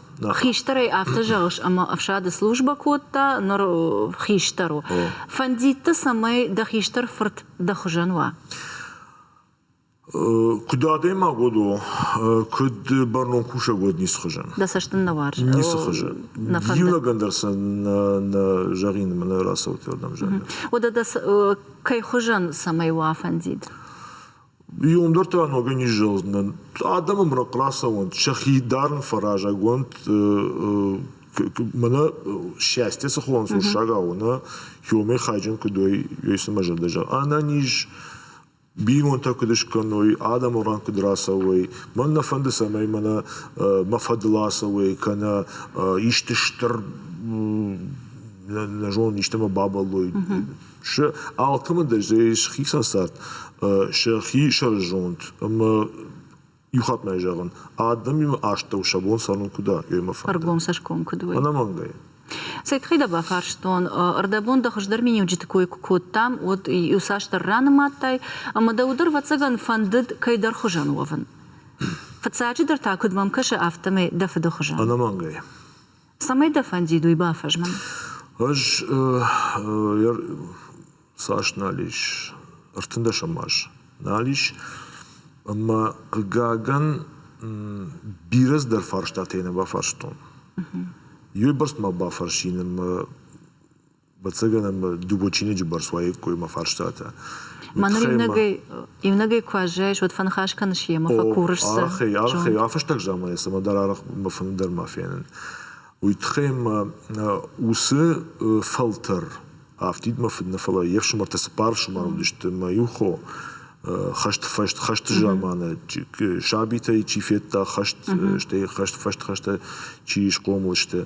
Хистӕрӕй афтӕ зӕгъыс, ӕмӕ ӕфсады службӕ кодта, ныр хистӕр у. Фӕндидты, цӕмӕй дӕ хистӕр фырт дӕ хуызӕн уа? Куыд адӕймаг уӕд у, куыд бӕрнон кусӕг уӕд ницы хуызӕн. Дӕ цӕст ын нӕ уарзы? Ницы хуызы. Иунӕгӕн дӕр сӕ нӕ зӕгъин ӕмӕ нӕ рацӕут уырдӕм зӕгъин. Уӕдӕ дӕ кӕй хуызӕн цӕмӕй уа фӕндид? Иуым дӕр та ногӕй низзӕлдзынӕн. Адӕм ӕмрӕнхъ рацӕуӕнт, сӕхи дарын фӕразӕг уӕнт. Мӕнӕ счастье цы хуылӕнцъуссагау у, нӕ иумӕ хайджын куыд уой, уый цымӕ зӕрдӕ зӕгъы. Ӕнӕниз бинонтӕ куыд скӕной, адӕмы ран куыд рацӕуой. Мӕн нӕ фӕнды, цӕмӕй мӕнӕ мӕ фӕдыл ацӕуой, кӕнӕ исты стыр, нӕ зонын, истӕмӕ бабӕллой. сӕ алкӕмӕндӕр ис хицӕн цард сӕхи сӕрызонд ӕмӕ иу хатт ма зӕгъын, адӕмимӕ астӕу сӕ бон цӕрын куыд у, уый мӕ фӕнды. Ӕргом цӕсгом куыд у? Ӕнӕмӕнгӕй. Цӕй тыххӕй дӕ бафарстон? Ӕрдӕбон дӕ хуыздӕр миниуджыты кой куы кодтам, уӕд иуцасдӕр ранымадтай, ӕмӕ дӕ уыдон, ӕвӕццӕгӕн, фӕндыд кӕйдӕр хуызӕн уӕвын. Фыццаджыдӕр та, куыд мӕм кӕсы, афтӕмӕй дӕ фыды хуызӕн. Ӕнӕмӕнгӕй. Цӕмӕй дӕ фӕндид уый бафӕзмын? Ӕз цас нал ис, ӕртындӕсӕм аз нал ис, ӕмӕ, хъыгагӕн, бирӕ цыдӕр фарстатӕ йын бафарстон. Иуӕй бӕрц ма бафӕрсин ӕмӕ Бацаган ӕма Дубочиниджи бӕрц уаиккой мӕ фарстатӕ. Мӕнур иунӕгӕй, иунӕгӕй куы аззайыс, уӕд фӕныхас кӕныс ема, фӕкурыс сӕ. Ӕхе, ӕхе, афӕстаг заманӕй цӕмӕ дӕр арахъ бафӕнды дӕр ма фенын. Уый тыххӕй ма уыцы фӕлтӕр афтидмӕ фыд нӕ, фӕлӕ йе фсымӕртӕ цыппар ӕфсымӕр уыдысты, мӕ иу хо хӕст фӕст хӕсты заманы сабитӕй чи федта хӕст, стӕй хӕст фӕст хӕстӕ чи схъомыл сты,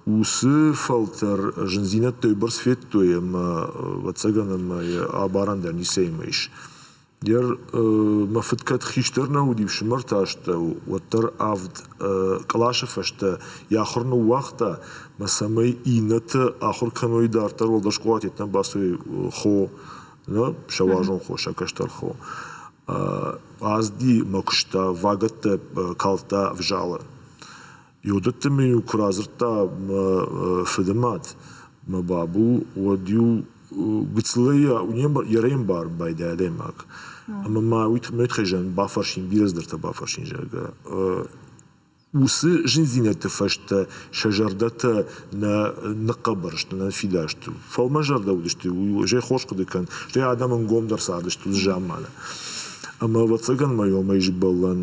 уыцы фӕлтӕр зындзинӕдтӕй бӕрц федтой ӕмӕ, ӕвӕццӕгӕн, ӕмӕ йӕ абарӕн дӕр ницӕимӕ ис. Йер мӕ фыд кӕд хистӕр нӕ уыди, ӕфсымӕрты астӕу, уӕддӕр авд къласы фӕстӕ йӕ ахуыр ныууагъта, мӕ цӕмӕй иннӕты ахуыр кӕной дарддӕр, уӕлдӕр скъолат йеддӕмӕ бацой хо сӕ уарзон хо, сӕ кӕстӕр хо. Азди мӕ куыста, вагӕттӕ калдта ӕвзалы. Иудӕтты мын-иу куы радзырдта мӕ фыды мад, мӕ бабу, уӕд-иу гыццылӕй йӕ рӕй ӕмбарын байдайы адӕймаг. Ӕмӕ ма уый тыххӕй бафӕрсын, бирӕ цыдӕртӕ бафӕрсын, зӕгъгӕ. Уыцы зындзинӕдты фӕстӕ сӕ зӕрдӕтӕ нӕ ныхъхъӕбӕр сты, нӕ фидар сты. Фӕлмӕнзӕрдӕ уыдысты уый, стӕй хорз хъуыды кӕн, стӕй адӕм ӕнгомдӕр цардысты уыцы заманы. Ӕмӕ, ӕвӕццӕгӕн ма иомӕй сбӕллӕн.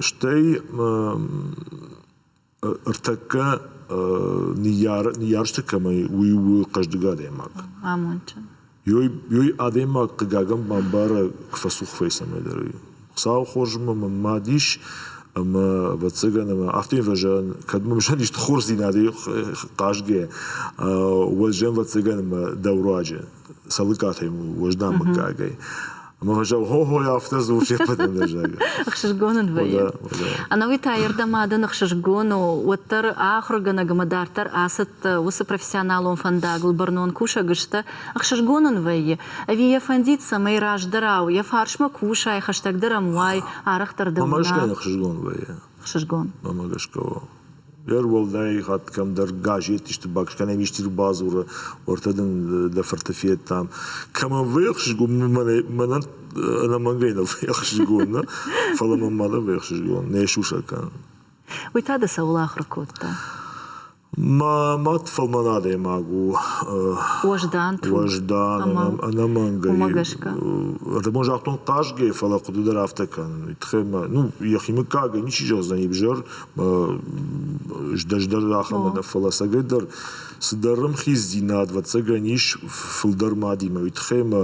Стӕй ӕртӕккӕ ныййарджыты кӕмӕй, уый у хъӕздыг адӕймаг. Амондджын. Ёй адӕймаг, хъыгагӕн, бамбара, куы фӕцух фӕйсӕ мӕйдӕр ӕй. Хуыцауы хорзмӕ мӕн мад ис, ӕмӕ, ӕвӕццӕгӕн, ӕмӕ афтӕ ӕмӕ зӕгъын, кӕд мӕм зӕгъын исты хорздзинадӕй хъазгӕ, уӕд зӕгъын, ӕвӕццӕгӕн, ӕмӕ дӕ руаджы, цӕлыккатӕй уӕздан мыггагӕй. Ӕмӕ зӕлгъохой афтӕ дзурыс йӕ фӕдӕнӕзӕг. Ӕхсызгон ын вӕййы. Ӕнӕуи та ирдӕм адӕн ӕхсызгон у, уӕддӕр ахуыргӕнӕг ӕмӕ дарддӕр ацыд уыцы профессионалон фӕндагыл бӕрнон кусӕг сты. Ӕхсызгон ын вӕййы, ӕви йӕ фӕндид, цӕмӕй раздӕрау йӕ фарсмӕ кусай, хӕстӕгдӕр ӕм уай, арӕхдӕр дӕ уына? Мамӕ гӕсгӕ йын ӕхсызгон вӕййы. Ӕхсызгон. Мамӕ гӕсгӕ уа. Ӕруӕлдай хатт кӕмдӕр газетисты бакӕс, кӕнӕм исты бадзуры, уӕртӕ дын дӕ фырты федтам. Кӕмӕн вӕхсызгон, мӕнӕ мӕнӕн ӕнӕмӕнгӕй нӕ вӕхсызгон, нӕ? Фӕлӕ мӕн ма нӕ вӕхсызгон, не сусӕг кӕн. Уый та дӕ цӕуыл ахуыр кодта? Мӕ мад фӕлмӕн адӕймаг у. Уӕздан, труд. Уӕздан, ӕнӕмӕнгӕй. Уымӕ гӕсгӕ. Адӕмон загътон хъазгӕ, фӕлӕ хъуыды дӕр афтӕ кӕнын. Тыхӕй мӕ, ну, йӕхи мыггагӕй ничи зӕгъдзӕн ӕвзӕр, здӕс дӕр ахӕмӕ нӕ, фӕлӕ цӕгӕйдӕр цыдӕр ӕмхиздзинад, ӕвӕццӕгӕн, ис фылдӕр мадимӕ, уый тыххӕй мӕ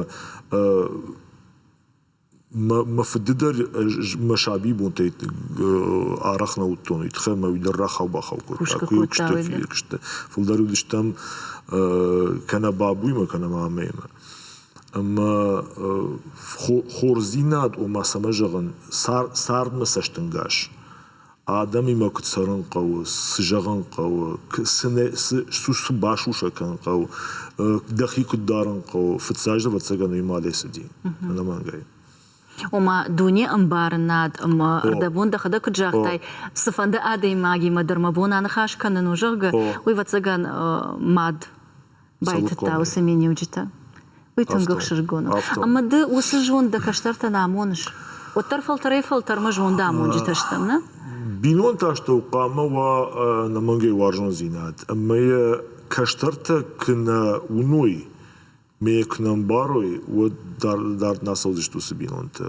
мӕ фыды дӕр мӕ сабибонтӕй арӕх нӕ уыдтон, уый тыххӕй мӕ уый дӕр рахау-бахау кодта. Куы куыстӕ фиййаг сты. Фылдӕр уыдыстӕм кӕнӕ бабуймӕ, кӕнӕ мамӕимӕ. Ӕмӕ хорздзинад, ома цӕмӕ зӕгъын, цардмӕ цӕстӕнгас Адӕмимӕ куыд цӕрын хъӕуы, цы зӕгъын хъӕуы, цы басусӕг кӕнын хъӕуы, дӕхи куыд дарын хъӕуы, фыццаг же ӕвӕццӕгӕн уый малӕй цыди ӕнӕмӕнгӕй. Ома дуне ӕмбарынад ӕмӕ дӕ бон дӕхӕдӕг куыд загътай, цыфӕнды адӕймагимӕ дӕр мӕ бон аныхас кӕнын у, зӕгъгӕ, уый ӕвӕццӕгӕн мад Байтыдта уыцы миниуджытӕ. Уый тынг ӕхсызгон у. Ӕмӕ ды уыцы зонд дӕ кӕстӕртӕн амоныс. Уӕддӕр фӕлтӕрӕй-фӕлтӕрмӕ зондамонджытӕ стӕм, нӕ? Бинонты астӕу хъуамӕ уа ӕнӕмӕнгӕй уарзондзинад, ӕмӕ йӕ кӕстӕртӕ куы нӕ уыной, ме куы нӕ ӕмбарой, уӕд дард нӕ цӕудзысты уыцы бинонтӕ.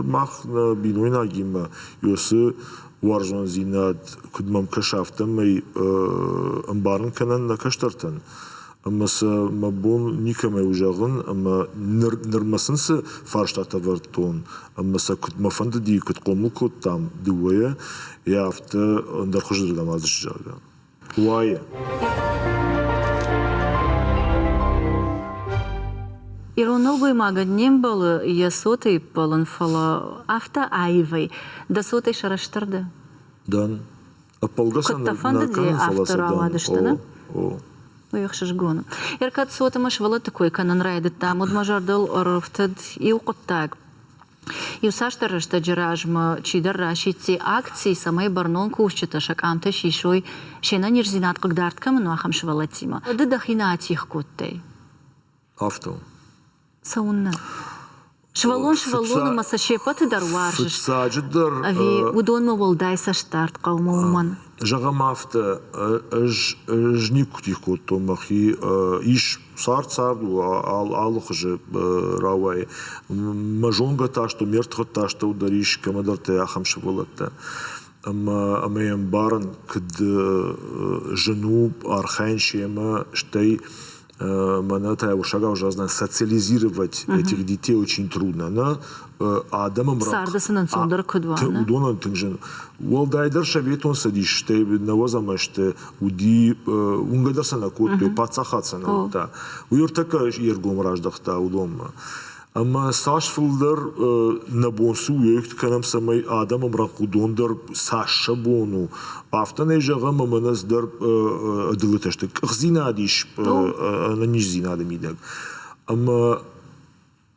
Мах, нӕ бинойнагимӕ, иу цы уарзондзинад куыд мӕм кӕса, афтӕмӕй ӕмбарын кӕнӕн нӕ кӕстӕртӕн. Ӕмӕ сӕ мӕ бон никӕмӕй у зӕгъын, ӕмӕ ныр нырмӕ сын цы фарстатӕ ӕвӕрдтон, ӕмӕ сӕ куыд мӕ фӕндыди, куыд хъомыл кодтам дыууӕйӕ, йӕ афтӕ ӕндӕр хуызы дӕр ӕмӕ зӕгъгӕ. уайы. Ирон нӕлгоймагӕн не мбӕлы йӕ цотӕй иппӕлын, фӕлӕ афтӕ аивӕй. Дӕ цотӕй сӕрыстыр дӕ? Дӕн. Ӕппӕлгӕ Куыд дӕ фӕндыди афтӕ рауадысты, нӕ? О. Уый ӕхсызгон у. Ӕркӕд цотимӕ сывӕллӕтты кой кӕнын райдыдтам, уӕд мӕ зӕрдыл ӕрӕфтыд иу хъуыддаг. Иуцасдӕр рӕстӕджы размӕ чидӕр расидти акци, цӕмӕй бӕрнон кусджытӕ сӕ къамтӕ сисой се нӕниздзинад хъыгдард кӕмӕн у, ахӕм сывӕллӕттимӕ. Ды дӕхимӕ атигъ кодтай? Афтӕ у. Цӕуыннӕ? Сывӕллон сывӕллон ӕмӕ сӕ се ппӕты дӕр уарзыс? Фыццаджыдӕр. Ӕви уыдонмӕ уӕлдай цӕстдард хъӕуы уымӕн? Зӕгъӕм афтӕ, ӕз никуы тигъ кодтон мӕхи, ис Цард цард у алыхуызы рауайы. Мӕ зонгӕтӕ астӕу, ме ртыхъӕдтӕ астӕу дӕр ис кӕмӕдӕртӕй ахӕм сывӕллӕттӕ. Ӕмӕ ӕмӕ йӕ ӕмбарын, куыд зын у архайын семӕ, стӕй мӕнӕ та я урсагау загъдзынӕн социализировать этих детей очень трудно. Она адӕмы царды сын ӕнцондӕр куыд уа. Уыдонӕн тынг зын. Уӕлдайдӕр Советон Цӕдис, стӕй нӕуӕдзӕмӕ сты, уыди, уынгӕ дӕр сӕ нӕ кодтой, паддзахад сӕ нӕ уыдта. Уый ӕртӕккӕ йе ргом раздӕхта уыдонмӕ. Ӕмӕ цас фылдӕр нӕ бон цы уӕйгт кӕнӕм, цӕмӕй адӕм ӕмрӕнхъ уыдон дӕр цас сӕ бон у, афтӕ нӕ зӕгъӕм ӕмӕ нӕ дӕр ӕдылытӕ сты. Къахдзинад ис ӕнӕниздзинады мидӕг. Ӕмӕ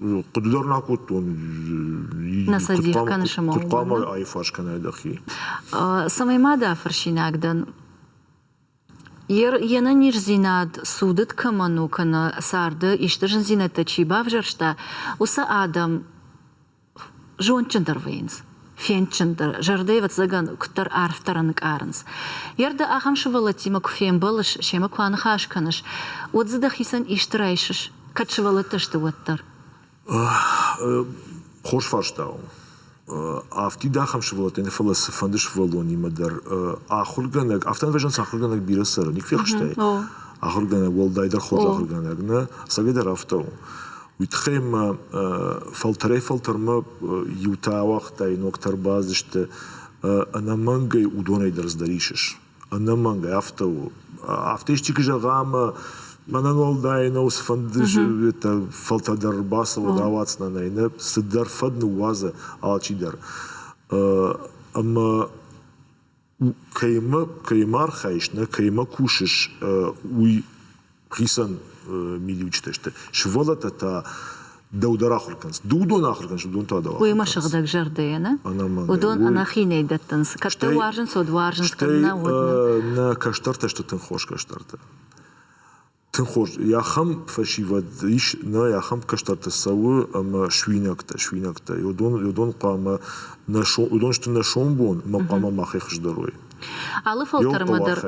Хъуыды дӕр нӕ кодтон. Нӕ сӕ дих кӕны сымах. Куыд хъуамӕ аифарс кӕнай дӕхи? Цӕмӕй ма дӕ фӕрсинаг дӕн. Йе нӕниздзинад цудыд кӕмӕн у кӕнӕ царды исты зындзинӕдтӕ чи бавзӕрста, уыцы адӕм зондджындӕр вӕййынц. фендджындӕр, зӕрдӕ, ӕвӕццӕгӕн, куыддӕр арфдӕр ӕнкъарынц. Йе рдӕ ахӕм сывӕллӕттимӕ куы фембӕлыс, семӕ куы аныхас кӕныс, уӕд дзы дӕхицӕн исты райсыс, кӕд сывӕллӕттӕ сты, уӕддӕр? Хорз фарста у. Афтид ахӕм сывӕллӕттӕй нӕ, фӕлӕ цыфӕнды сывӕллонимӕ дӕр ахуыргӕнӕг, афтӕ ӕмвӕзынц ахуыргӕнӕг бирӕ цӕры, ник фехстай? Ахуыргӕнӕг, уӕлдайдӕр хорз ахуыргӕнӕг нӕ, ӕцӕгӕйдӕр афтӕ у. Уый тыххӕй ма фӕлтӕрӕй-фӕлтӕрмӕ иутӕ ауагътай, ногтӕ ӕрбацыдысты, ӕнӕмӕнгӕй уыдонӕй дӕр здӕр исыс. Ӕнӕмӕнгӕй афтӕ у. Афтӕ исчи куы зӕгъа ӕмӕ мӕнӕн уӕлдай нӕу цыфӕнды фӕлтӕр ӕрбацӕуӕд, ауадздзынӕ нӕ, нӕ цыдӕр фӕд ныууадзы алчидӕр. Ӕмӕ кӕимӕ архайыс, нӕ кӕимӕ кусыс, уый хицӕн мидиуджытӕ сты. Сывӕллӕттӕ та дӕу дӕр ахуыр кӕнынц. Ды уыдон ахуыр кӕныс, уыдон та дӕу уыимӕ сыгъдӕгзӕрдӕйӕ, нӕ? Уыдон ӕнӕхинӕй дӕттынц, кӕд дӕ уарзынц, уӕд уарзынц, кӕд нӕ, уӕд нӕ. Нӕ кӕстӕртӕ сты тынг хорз кӕстӕртӕ. Тыххуыз, ахӕм фӕсивӕд ис, нӕ ахӕм кӕстӕртӕ цӕуы ӕмӕ суинӕгтӕ, суинӕгтӕ. Уыдон, уыдон хъуамӕ нӕ сом, уыдон сты нӕ сомбон, ӕмӕ хъуамӕ махӕй хуыздӕр уой. Алы фӕлтӕрмӕ дӕр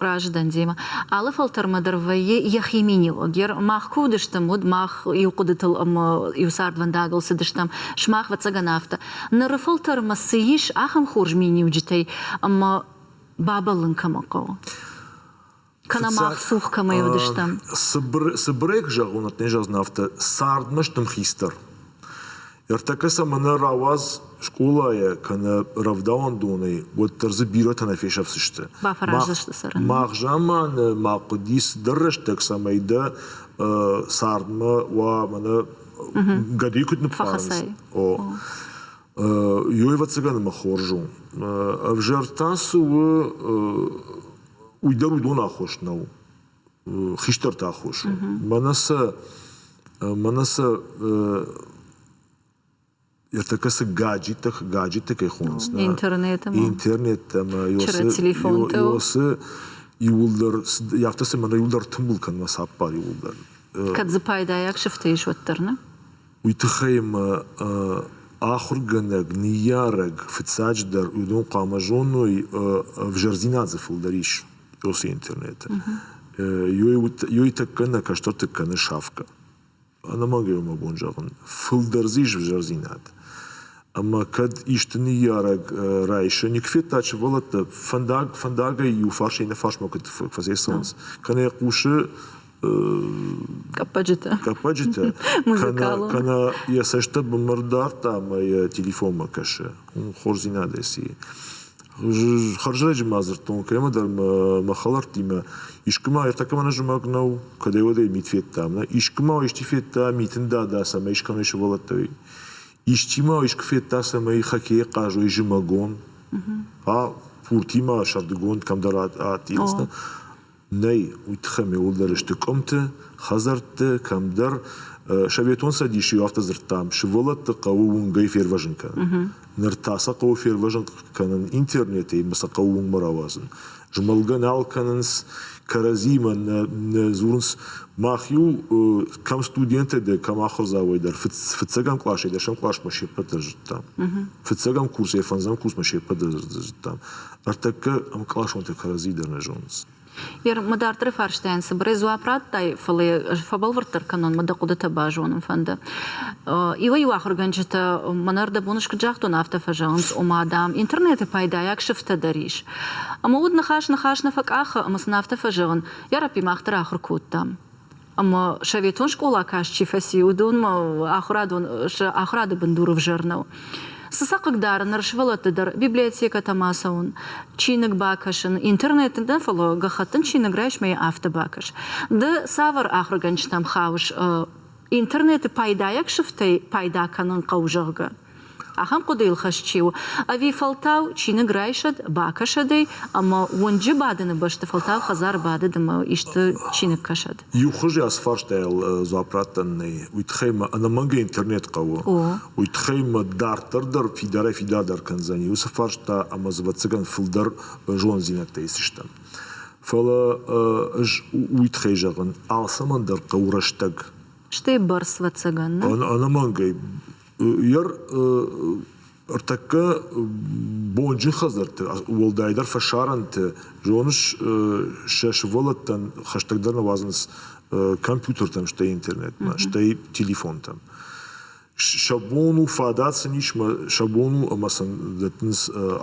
разыдӕн демӕ. Алы фӕлтӕрмӕ дӕр вӕййы йӕхи миниуӕг. Мах куы уыдыстӕм, уӕд мах иу хъуыдытыл ӕмӕ иу цардвӕндагыл цыдыстӕм, сымах, ӕвӕццӕгӕн, афтӕ. Ныры фӕлтӕрмӕ цы ис ахӕм хорз миниуджытӕй ӕмӕ бабӕллын кӕмӕн хъӕуы? кӕнӕ мах цух кӕмӕй уыдыстӕм. Цыбыр цыбырӕй куы зӕгъон, не зӕгъдзынӕ афтӕ, цардмӕ стым хистӕр. Ӕртӕккӕ сӕм мӕнӕ рауадз скъолайӕ кӕнӕ рӕвдауӕндонӕй, уӕддӕр дзы бирӕтӕ нӕ фесӕфдзысты. Бафӕраздзысты цӕрын. Мах заманы, мах хъуыди цыдӕр рӕстӕг, цӕмӕй дӕ цардмӕ уа мӕнӕ гӕдыйы куыд ныппарынц. О. Ёй, ӕвӕццӕгӕн, мӕ хорз у. Ӕвзӕр та цы у, уый дӕр уыдон аххос нӕу хистӕрты аххос у мӕнӕ сӕ мӕнӕ сӕ ертӕккӕ цы гаджеттӕ гаджетты кӕй хонынц интернет интернет ӕмӕ телефонтыл иуылдӕр афтӕ цӕмӕн иуылдӕр тымбыл кӕн мӕ цаппар иуылдӕр кӕд дзы пайдайаг сыфтӕ ис уӕддӕр нӕ Уый тыххӕй ӕмӕ ахуыргӕнӕг, ныййарӕг фыццаджыдӕр уыдон хъуамӕ зоной ӕвзӕрдзинад дзы фылдӕр ис уыцы интернеты. Ёй тӕккӕ нӕ кӕстӕрты кӕны шафкӕ. Ӕнӕмӕнгӕй уымӕ бон зӕгъын. Фылдӕр дзы ис ӕвзӕрдзинад. Ӕмӕ кӕд исты ныййарӕг райсы, никуы федта сывӕллӕттӕ, фӕндаг фӕндагӕй иу фарс-иннӕ фарсмӕ куыд фӕцӕйцӕуынц, кӕнӕ йӕ хъусы Къӕппӕджытӕ. Къӕппӕджытӕ. Музыкалон. Кӕнӕ йӕ цӕстытӕ бынмӕ ардардта ӕмӕ йӕ телефонмӕ кӕсы. Хорздзинадӕй сии. Хӕрзӕрӕджы ма дзырдтон, кӕмӕдӕр мӕ хӕлӕрттимӕ искуы ма ӕртӕкӕм ӕнӕзымӕг нӕу, кӕдӕй-уӕдӕй мит федтам. Искуы ма исчи федта митын дада, цӕмӕй искӕмӕй сывӕллӕттӕ исчи ма искуы федта, цӕмӕй хоккейы хъазой зымӕгон. А пуртимӕ сӕрдыгонд кӕмдӕр адтис. Нӕй уый тыххӕй мӕуылдӕр сты къуымты, хӕдзӕртты, кӕмдӕр. Советон Цӕдисы-иу афтӕ дзырдтам: сывӕллӕтты хъӕуы уынгӕй фервӕзын кӕнын. Ныр та сӕ хъӕуы фервӕзын кӕнын интернетӕй ӕмӕ сӕ хъӕуы уынгмӕ рауадзын. Змӕлгӕ нал кӕнынц, кӕрӕдзимӕ нӕ нӕ дзурынц. Мах-иу кӕм студенттӕй дӕр, кӕм ахуырдзауӕй дӕр, фыццӕгӕм классӕй дӕсӕм классмӕ се ппӕт дӕр зыдтам. Фыццӕгӕм курсӕй фӕндзӕм курсмӕ се ппӕт дӕр зыдтам. Ӕртӕккӕ ӕмкъласонтӕ кӕрӕдзи дӕр нӕ зонынц. Ер, мы дарддӕры фарстайӕн цыбырӕй дзуапп радтай, фӕлӕ ӕз фӕбӕлвырддӕр кӕнон, мӕ дӕ хъуыдытӕ базонын фӕнды. Иуӕй-иу ахуыргӕнджытӕ мӕнӕ ӕрдӕбон скуыд загътон, афтӕ фӕзӕгъынц, ома, дам, интернеты пайдайаг сыфтӕ дӕр ис. Ӕмӕ уыд ныхас ныхас нӕ фӕкъахы, ӕмӕ сын афтӕ фӕзӕгъын, Йараппи мах дӕр ахуыр кодтам. Ӕмӕ советон скъола каст чи фӕци, уыдонмӕ ахуырадон сӕ ахуырады бындур ӕвзӕр нӕу. Цы сӕ хъыгдары ныр сывӕллӕтты дӕр библиотекӕтӕм ацӕуын, чиныг бакӕсын, интернет нӕ, фӕлӕ гӕххӕттын чиныг райсмӕ афтӕ бакӕс. Ды цавӕр ахуыргӕнджытӕм хауыс интернеты пайдайаг сыфтӕй пайда кӕнын хъӕуы, зӕгъгӕ? Ахӕм хъуыдыйыл хӕст чи у? Ӕви фӕлтау чиныг райсӕд, бакӕсӕд ӕй ӕмӕ уынджы бадыны бӕсты фӕлтау хӕдзары бадыд ӕмӕ исты чиныг кӕсӕд? Иу хуызы ацы фарстайыл дзуапп раттӕн нӕй. Уый тыххӕй мӕ ӕнӕмӕнгӕ интернет хъӕуы. Уый тыххӕй мӕ дарддӕр дӕр фидарӕй фидардӕр кӕндзӕни уыцы фарста ӕмӕ дзы ӕвӕццӕгӕн фылдӕр бӕрзонддзинӕдтӕ исдзыстӕм. Фӕлӕ ӕз уый тыххӕй зӕгъын, алцӕмӕн дӕр хъӕуы рӕстӕг. Стӕй бӕрц, ӕвӕццӕгӕн, нӕ? Ӕнӕмӕнгӕй Йер ӕртӕккӕ бонджын хӕдзӕртты, уӕлдайдӕр фӕсарӕнты, зоныс, сӕ сывӕллӕттӕн хӕстӕгдӕр нуазынц компьютертӕм, стӕй интернетмӕ, стӕй телефонтӕм. Сӕ бон у фадат сын ис, сӕ бон у ӕмӕ сын дӕттынц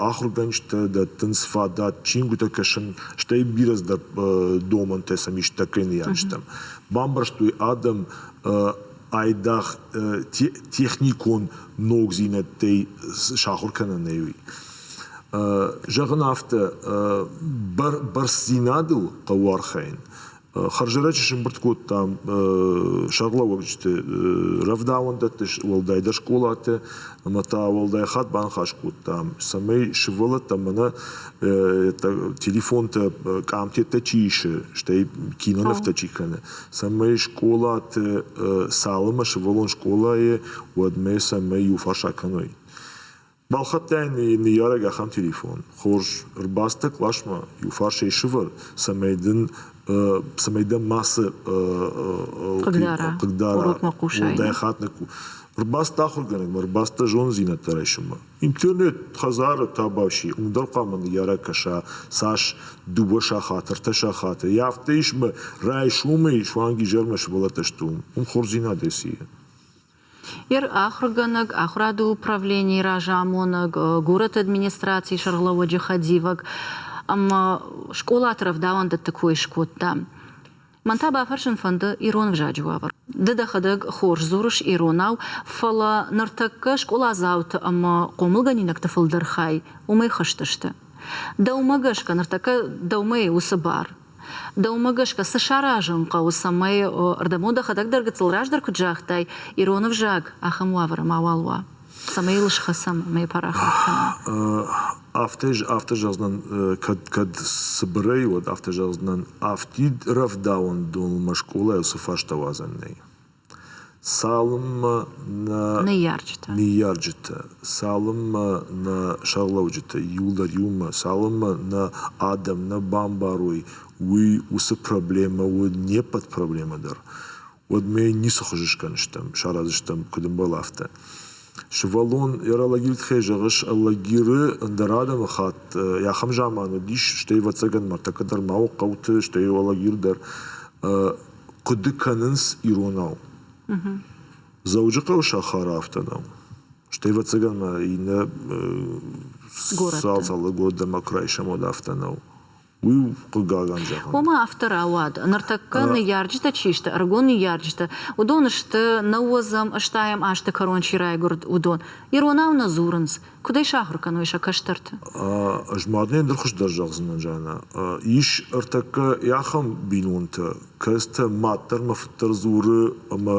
ахуыргӕнджытӕ, дӕттынц фадат, чингуытӕ кӕсын, стӕй бирӕздӕр домӕнтӕ сӕм ис тӕккӕ ныййарджытӕм. Бамбӕрстой адӕм айдагъ техникон ногдзинӕдтӕй сахуыр кӕнӕнӕй уый. Зӕгъын афтӕ, бӕрцдзинадыл хъӕуы архайын. Хӕрзӕрӕджы сӕмбырд кодтам сӕргълӕууӕгджыты рӕвдауӕндӕтты, уӕлдайдӕр скъолаты, ӕмӕ та уӕлдай хатт баныхас кодтам, цӕмӕй сывӕллӕттӕн мӕнӕ телефонтӕ къамтӕттӕ чи исы, стӕй кинонывтӕ чи кӕны, цӕмӕй скъолаты цалынмӕ сывӕллон скъолайы, уӕдмӕ цӕмӕй иуфарс акӕной. Балхӕдтай ныййарӕг ахӕм телефон. Хорз, ӕрбацыдтӕ къласмӕ, иуфарсӕй сывӕр, цӕмӕй дын цӕмӕй дӕ мацы хъыгдара, хъыгдара, дӕ хатт ӕрбацыд ахуыргӕнӕгмӕ, ӕрбацыд дӕ зонддзинӕдтӕ райсынмӕ. Интернет хӕдзары табаши уым дӕр хъуамӕ ныййарӕг кӕса цас дыууӕ сахаты, ӕртӕ сахаты. Йӕ афтӕ ис мӕ райсомӕй суанг изӕрмӕ сывӕллӕттӕ сты уым. Уым хорздзинадӕй сийы. Ер ахуыргӕнӕг, ахуырады управленийы разамонӕг, горӕты администрацийы сӕргълӕууӕджы хӕдивӕг ӕмӕ скъолаты рӕвдауӕндӕтты кой скодта. Мӕн та бафӕрсын фӕнды ирон ӕвзаджы уавӕр. Ды дӕхӕдӕг хорз дзурыс иронау, фӕлӕ ныртӕккӕ скъоладзауты ӕмӕ хъомылгӕнинӕгты фылдӕр хай уымӕй хызтысты. Дӕумӕ гӕсгӕ ныртӕккӕ дӕумӕ уыцы бар? Дӕумӕ гӕсгӕ цы саразын хъӕуы, цӕмӕй, ӕрдӕбон дӕхӕдӕг дӕр гыццыл раздӕр куыд загътай, ирон ӕвзаг ахӕм уавӕры мауал уа? цӕмӕй йыл схӕцӕм ӕмӕ парахат кӕнӕм. Афтӕ афтӕ зӕгъдзынӕн кӕд кӕд цыбырӕй уӕд афтӕ зӕгъдзынӕн афтид рӕвдауӕндонмӕ скъолайыл цы фӕстӕ уадзӕн нӕй. Цалынмӕ нӕ ныййарджытӕ ныййарджытӕ цалынмӕ нӕ сӕргълӕуджытӕ иуылдӕр иумӕ цалынмӕ нӕ адӕм нӕ бамбарой уый уыцы проблемӕ уы не ппӕт проблемӕ дӕр уӕдмӕ ницы хуызы скӕныстӕм, саразыстӕм куыд ӕмбӕл, афтӕ. Сывӕллон йӕ ралагиры тыххӕй зӕгъыс, алагиры ӕндӕр адӕмыхатт йӕ ахӕм заман уыдис, стӕй, ӕвӕццӕгӕн, ныртӕккӕ дӕр ма у хъӕуты, стӕй алагир дӕр, хъуыды кӕнынц иронау. Дзӕуджыхъӕуы сахары афтӕ нӕу. Стӕй, ӕвӕццӕгӕн ма иннӕ цал-цалы годы ӕмӕ крайсамод афтӕ нӕу. Уый у хъыгагӕн зӕгъӕн. Ома афтӕ рауад, ныртӕккӕ ныййарджытӕ чи сты, ӕрыгон ныййарджытӕ, уыдон сты, нӕуодзӕм, ыстайӕм азты кӕрон чи райгуырд, уыдон. Иронау нӕ дзурынц. Куыд ӕй сахуыр кӕной сӕ кӕстӕрты? Ӕз мадынӕн дӕр хуыздӕр зӕгъдзынӕн, Жаннӕ. Ис ӕртӕккӕ ахӕм бинонтӕ, кӕцытӕ мад дӕр мӕ фыд дӕр дзуры ӕмӕ,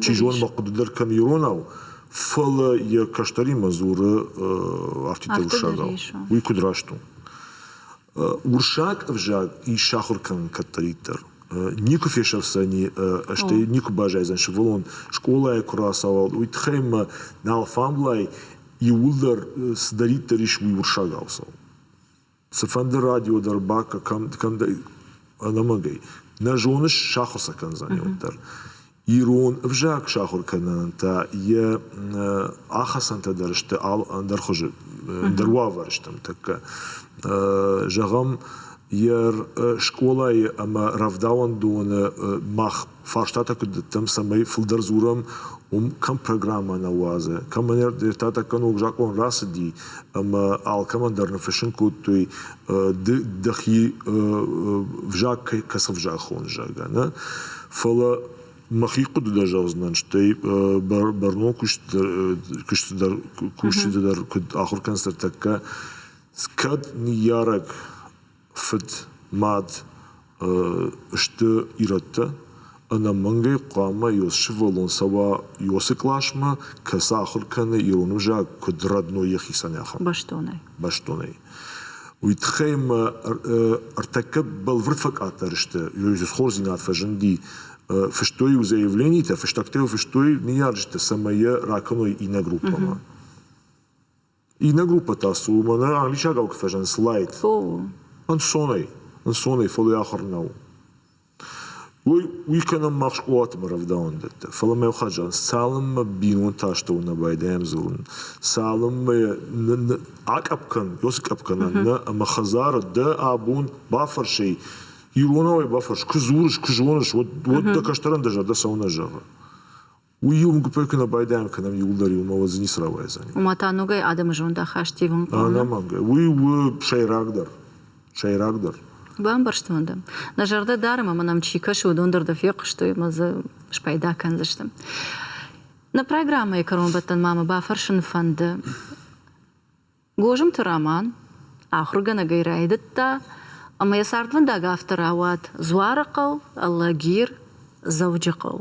чи зоны, мӕ хъуыды дӕр кӕм иронау, фӕлӕ йӕ кӕстӕримӕ дзуры арфитӕ уыссагау. Уый куыд раст у? Уырыссаг ӕвзаг ис сахуыр кӕнын кӕддӕриддӕр. Никуы фесӕфдзӕни, стӕй никуы баззайдзӕн сывӕллон скъолайы куы рацауӕлд, уый тыххӕй ӕмӕ нал фӕмблай иууылдӕр цыдӕриддӕр ис, уый уырыссагау цӕуы. Цыфӕнды радио дӕр бакӕ кӕм кӕм дӕ ӕнӕмӕнгӕй. Нӕ зоныс, сахуыр сӕ кӕндзӕни уӕддӕр. Ирон ӕвзаг сахуыр кӕнынӕн та йӕ ахӕцӕнтӕ дӕр сты ӕндӕр хуызы, ӕндӕр уавӕры тӕккӕ. Зӕгъӕм, йӕ скъолайы ӕмӕ рӕвдауӕндоны мах фарстатӕ куыд дӕттӕм, цӕмӕй фылдӕр дзурӕм, уым кӕм программӕ нӕ уадзы, кӕмӕн ертӕтӕггӕн ног закъон рацыди ӕмӕ алкӕмӕн дӕр ныффыссын кодтой, ды дӕхи ӕвзаг кӕцы ӕвзаг хоны, зӕгъгӕ, нӕ. Фӕлӕ мӕхи хъуыды дӕр зӕгъдзынӕн, стӕй бӕрнон куысты дӕр кусджыты дӕр куыд ахуыр кӕнынц тӕккӕ, кӕд ныййарӕг фыд, мад сты ирӕттӕ, ӕнӕмӕнгӕй хъуамӕ йыл сывӕллон цӕуа ёсы къласмӕ, кӕцы ахуыр кӕны ирон ӕвзаг куыд родной йӕхицӕн ахуыр. Бӕстонӕй. Бӕстонӕй. Уый тыххӕй мӕ ӕртӕккӕ бӕлвырд фӕкъаддӕр сты, ёй дзы хорздзинад фӕзынди, фыстой иу заявленитӕ, фыстӕгтӕ йыл фыстой ныййарджытӕ, цӕмӕй йӕ ракӕной иннӕ группӕмӕ. Иннӕ группӕ та цы у, мӕнӕ англисагау куы фӕзынынц light. Ӕнцонӕй, ӕнцонӕй, фӕлӕ йӕ ахуыр нӕу. Уый уый кӕнӕм мах скъолаты ӕмӕ рӕвдауӕндӕттӕ. Фӕлӕ мӕ ухӕдзар, цалынмӕ бинонтӕ астӕуы нӕ байдайӕм дзурын, цалынмӕ нӕ нӕ акъӕпп кӕн, йё скъӕпп кӕна нӕ ӕмӕ хӕдзары дӕ абон бафӕрсай, иронау ӕй бафӕрс, куы дзурыс, куы зоныс, уӕд уӕд дӕ кӕстӕрӕн дӕ зӕрдӕ цӕуылнӕ зӕгъы? уый уым гуыппӕй куы нӕ байдайӕм кӕнӕм иуылдӕр иумӕ уӕд дзы ницы рауайдзӕни ома та ногӕй адӕмы зондахаст ивынхъом ӕнӕмӕнгӕй уый у сӕйрагдӕр сӕйрагдӕр бамбӕрстон дӕ нӕ зӕрдӕ дарӕм ӕмӕ нӕм чи кӕсы уыдон дӕр дӕ фехъуыстой ӕмӕ дзы спайда кӕндзысты нӕ программӕйы кӕронбӕттӕн ма мӕ бафӕрсын фӕнды Гозымты Роман ахуыргӕнӕгӕй райдыдта ӕмӕ йӕ цардвӕндаг афтӕ рауад Дзуарыхъӕу, Алагир, Дзӕуджыхъӕу.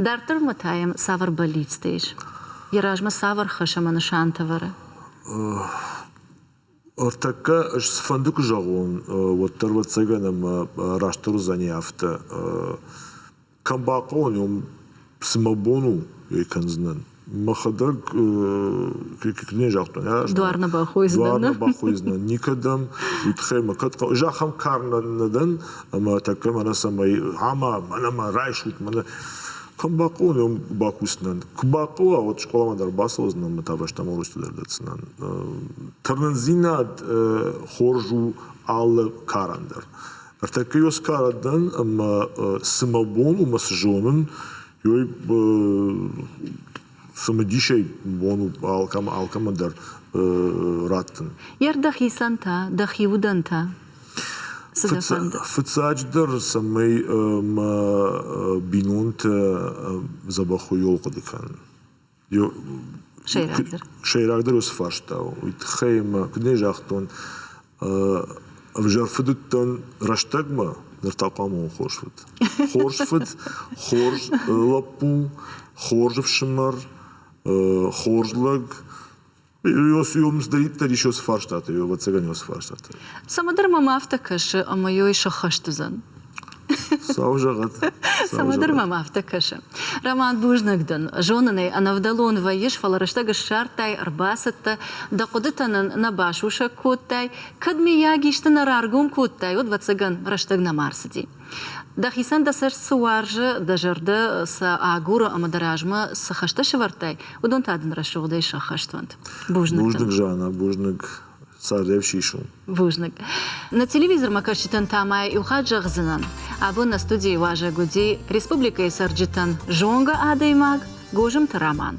Дарддӕрмӕ та йӕм цавӕр бӕллицтӕ ис? Йӕ размӕ цавӕр хӕс ӕмӕ нысантӕ вӕры? Ӕртӕккӕ ӕз цыфӕнды куы зӕгъон, уӕддӕр, ӕвӕццӕгӕн, ӕмӕ растдӕр уыдзӕни афтӕ. Кӕм бахъӕуӕн уӕм, цы мӕ бон у ӕй кӕндзынӕн? Мӕхӕдӕг не загътон. Дуар нӕ бахойдзынӕн. Дуар нӕ бахойдзынӕн никӕдӕм. Уый тыххӕй мӕ кӕд хъӕуы. Ӕз ахӕм кар нӕ дӕн, ӕмӕ тӕккӕ мӕнӕ цӕмӕй ама, мӕнӕ ма райсут мӕнӕ. Кӕм бахъӕуӕн уӕм бакусынӕн? Куы бахъӕуа, уӕд скъоламӕ дӕр бацӕудзынӕн ӕмӕ та фӕстӕмӕ уроцты дӕр дӕтдзынӕн. Тырнындзинад хорз у алы карӕн дӕр. Ӕртӕккӕ Оскара дӕн ӕмӕ цы мӕ бон у мӕ цы зонын, ёй цымыдисӕй бон у алкӕмӕ алкӕмӕ дӕр раттын. Йе рдӕхицӕн та, дӕхи удӕнтӕ? Фыццаджыдӕр, цӕмӕй мӕ бинонтӕ дзӕбӕх уой хъуыды кӕнын. Сӕйрагдӕр. Сӕйрагдӕр уыцы фарста у. Уый тыххӕй ӕмӕ куыд нӕ загътон, ӕвзӕр фыд уыдтӕн рӕстӕгмӕ, ныр та хъуамӕ хорз фыд. Хорз фыд, хорз лӕппу, хорз ӕфсымӕр, хорз лӕг, Дӕриддӕр ис уыцы фарстатӕй, ӕвӕццӕгӕн уыцы фарстатӕй. Цӕмӕдӕр мӕм афтӕ кӕсы, ӕмӕ йой сӕххӕст уыдзӕн. Цау зӕгъӕт. Цӕмӕдӕр мӕм афтӕ кӕсы. Роман бузнаг дӕн. Зонын ӕй, ӕнӕвдӕлон вӕййыс, фӕлӕ рӕстӕг ссардтай, ӕрбацыдтӕ, дӕ хъуыдытӕ нын нӕ басусӕг кодтай. Кӕд, миййаг, исты нӕ раргом кодтай, уӕд, ӕвӕццӕгӕн, рӕстӕг нӕма рцыди. Дӕхицӕн дӕ цӕст цы уарзы, дӕ зӕрдӕ сӕ агуры ӕмӕ дӕ размӕ цы хӕстӕ сӕвӕрдтай, уыдон та дын рӕсугъдӕй сӕххӕст уӕнт. Бузныг. Бузныг, Жанна, бузныг. Цардӕй сисон. Бузныг. На телевизормӕ кӕсджытӕн та ма иу хатт зӕгъдзынӕн, абон нӕ студийы уазӕг уыди республикӕйы цӕрджытӕн зонгӕ адӕймаг Гозымты Роман.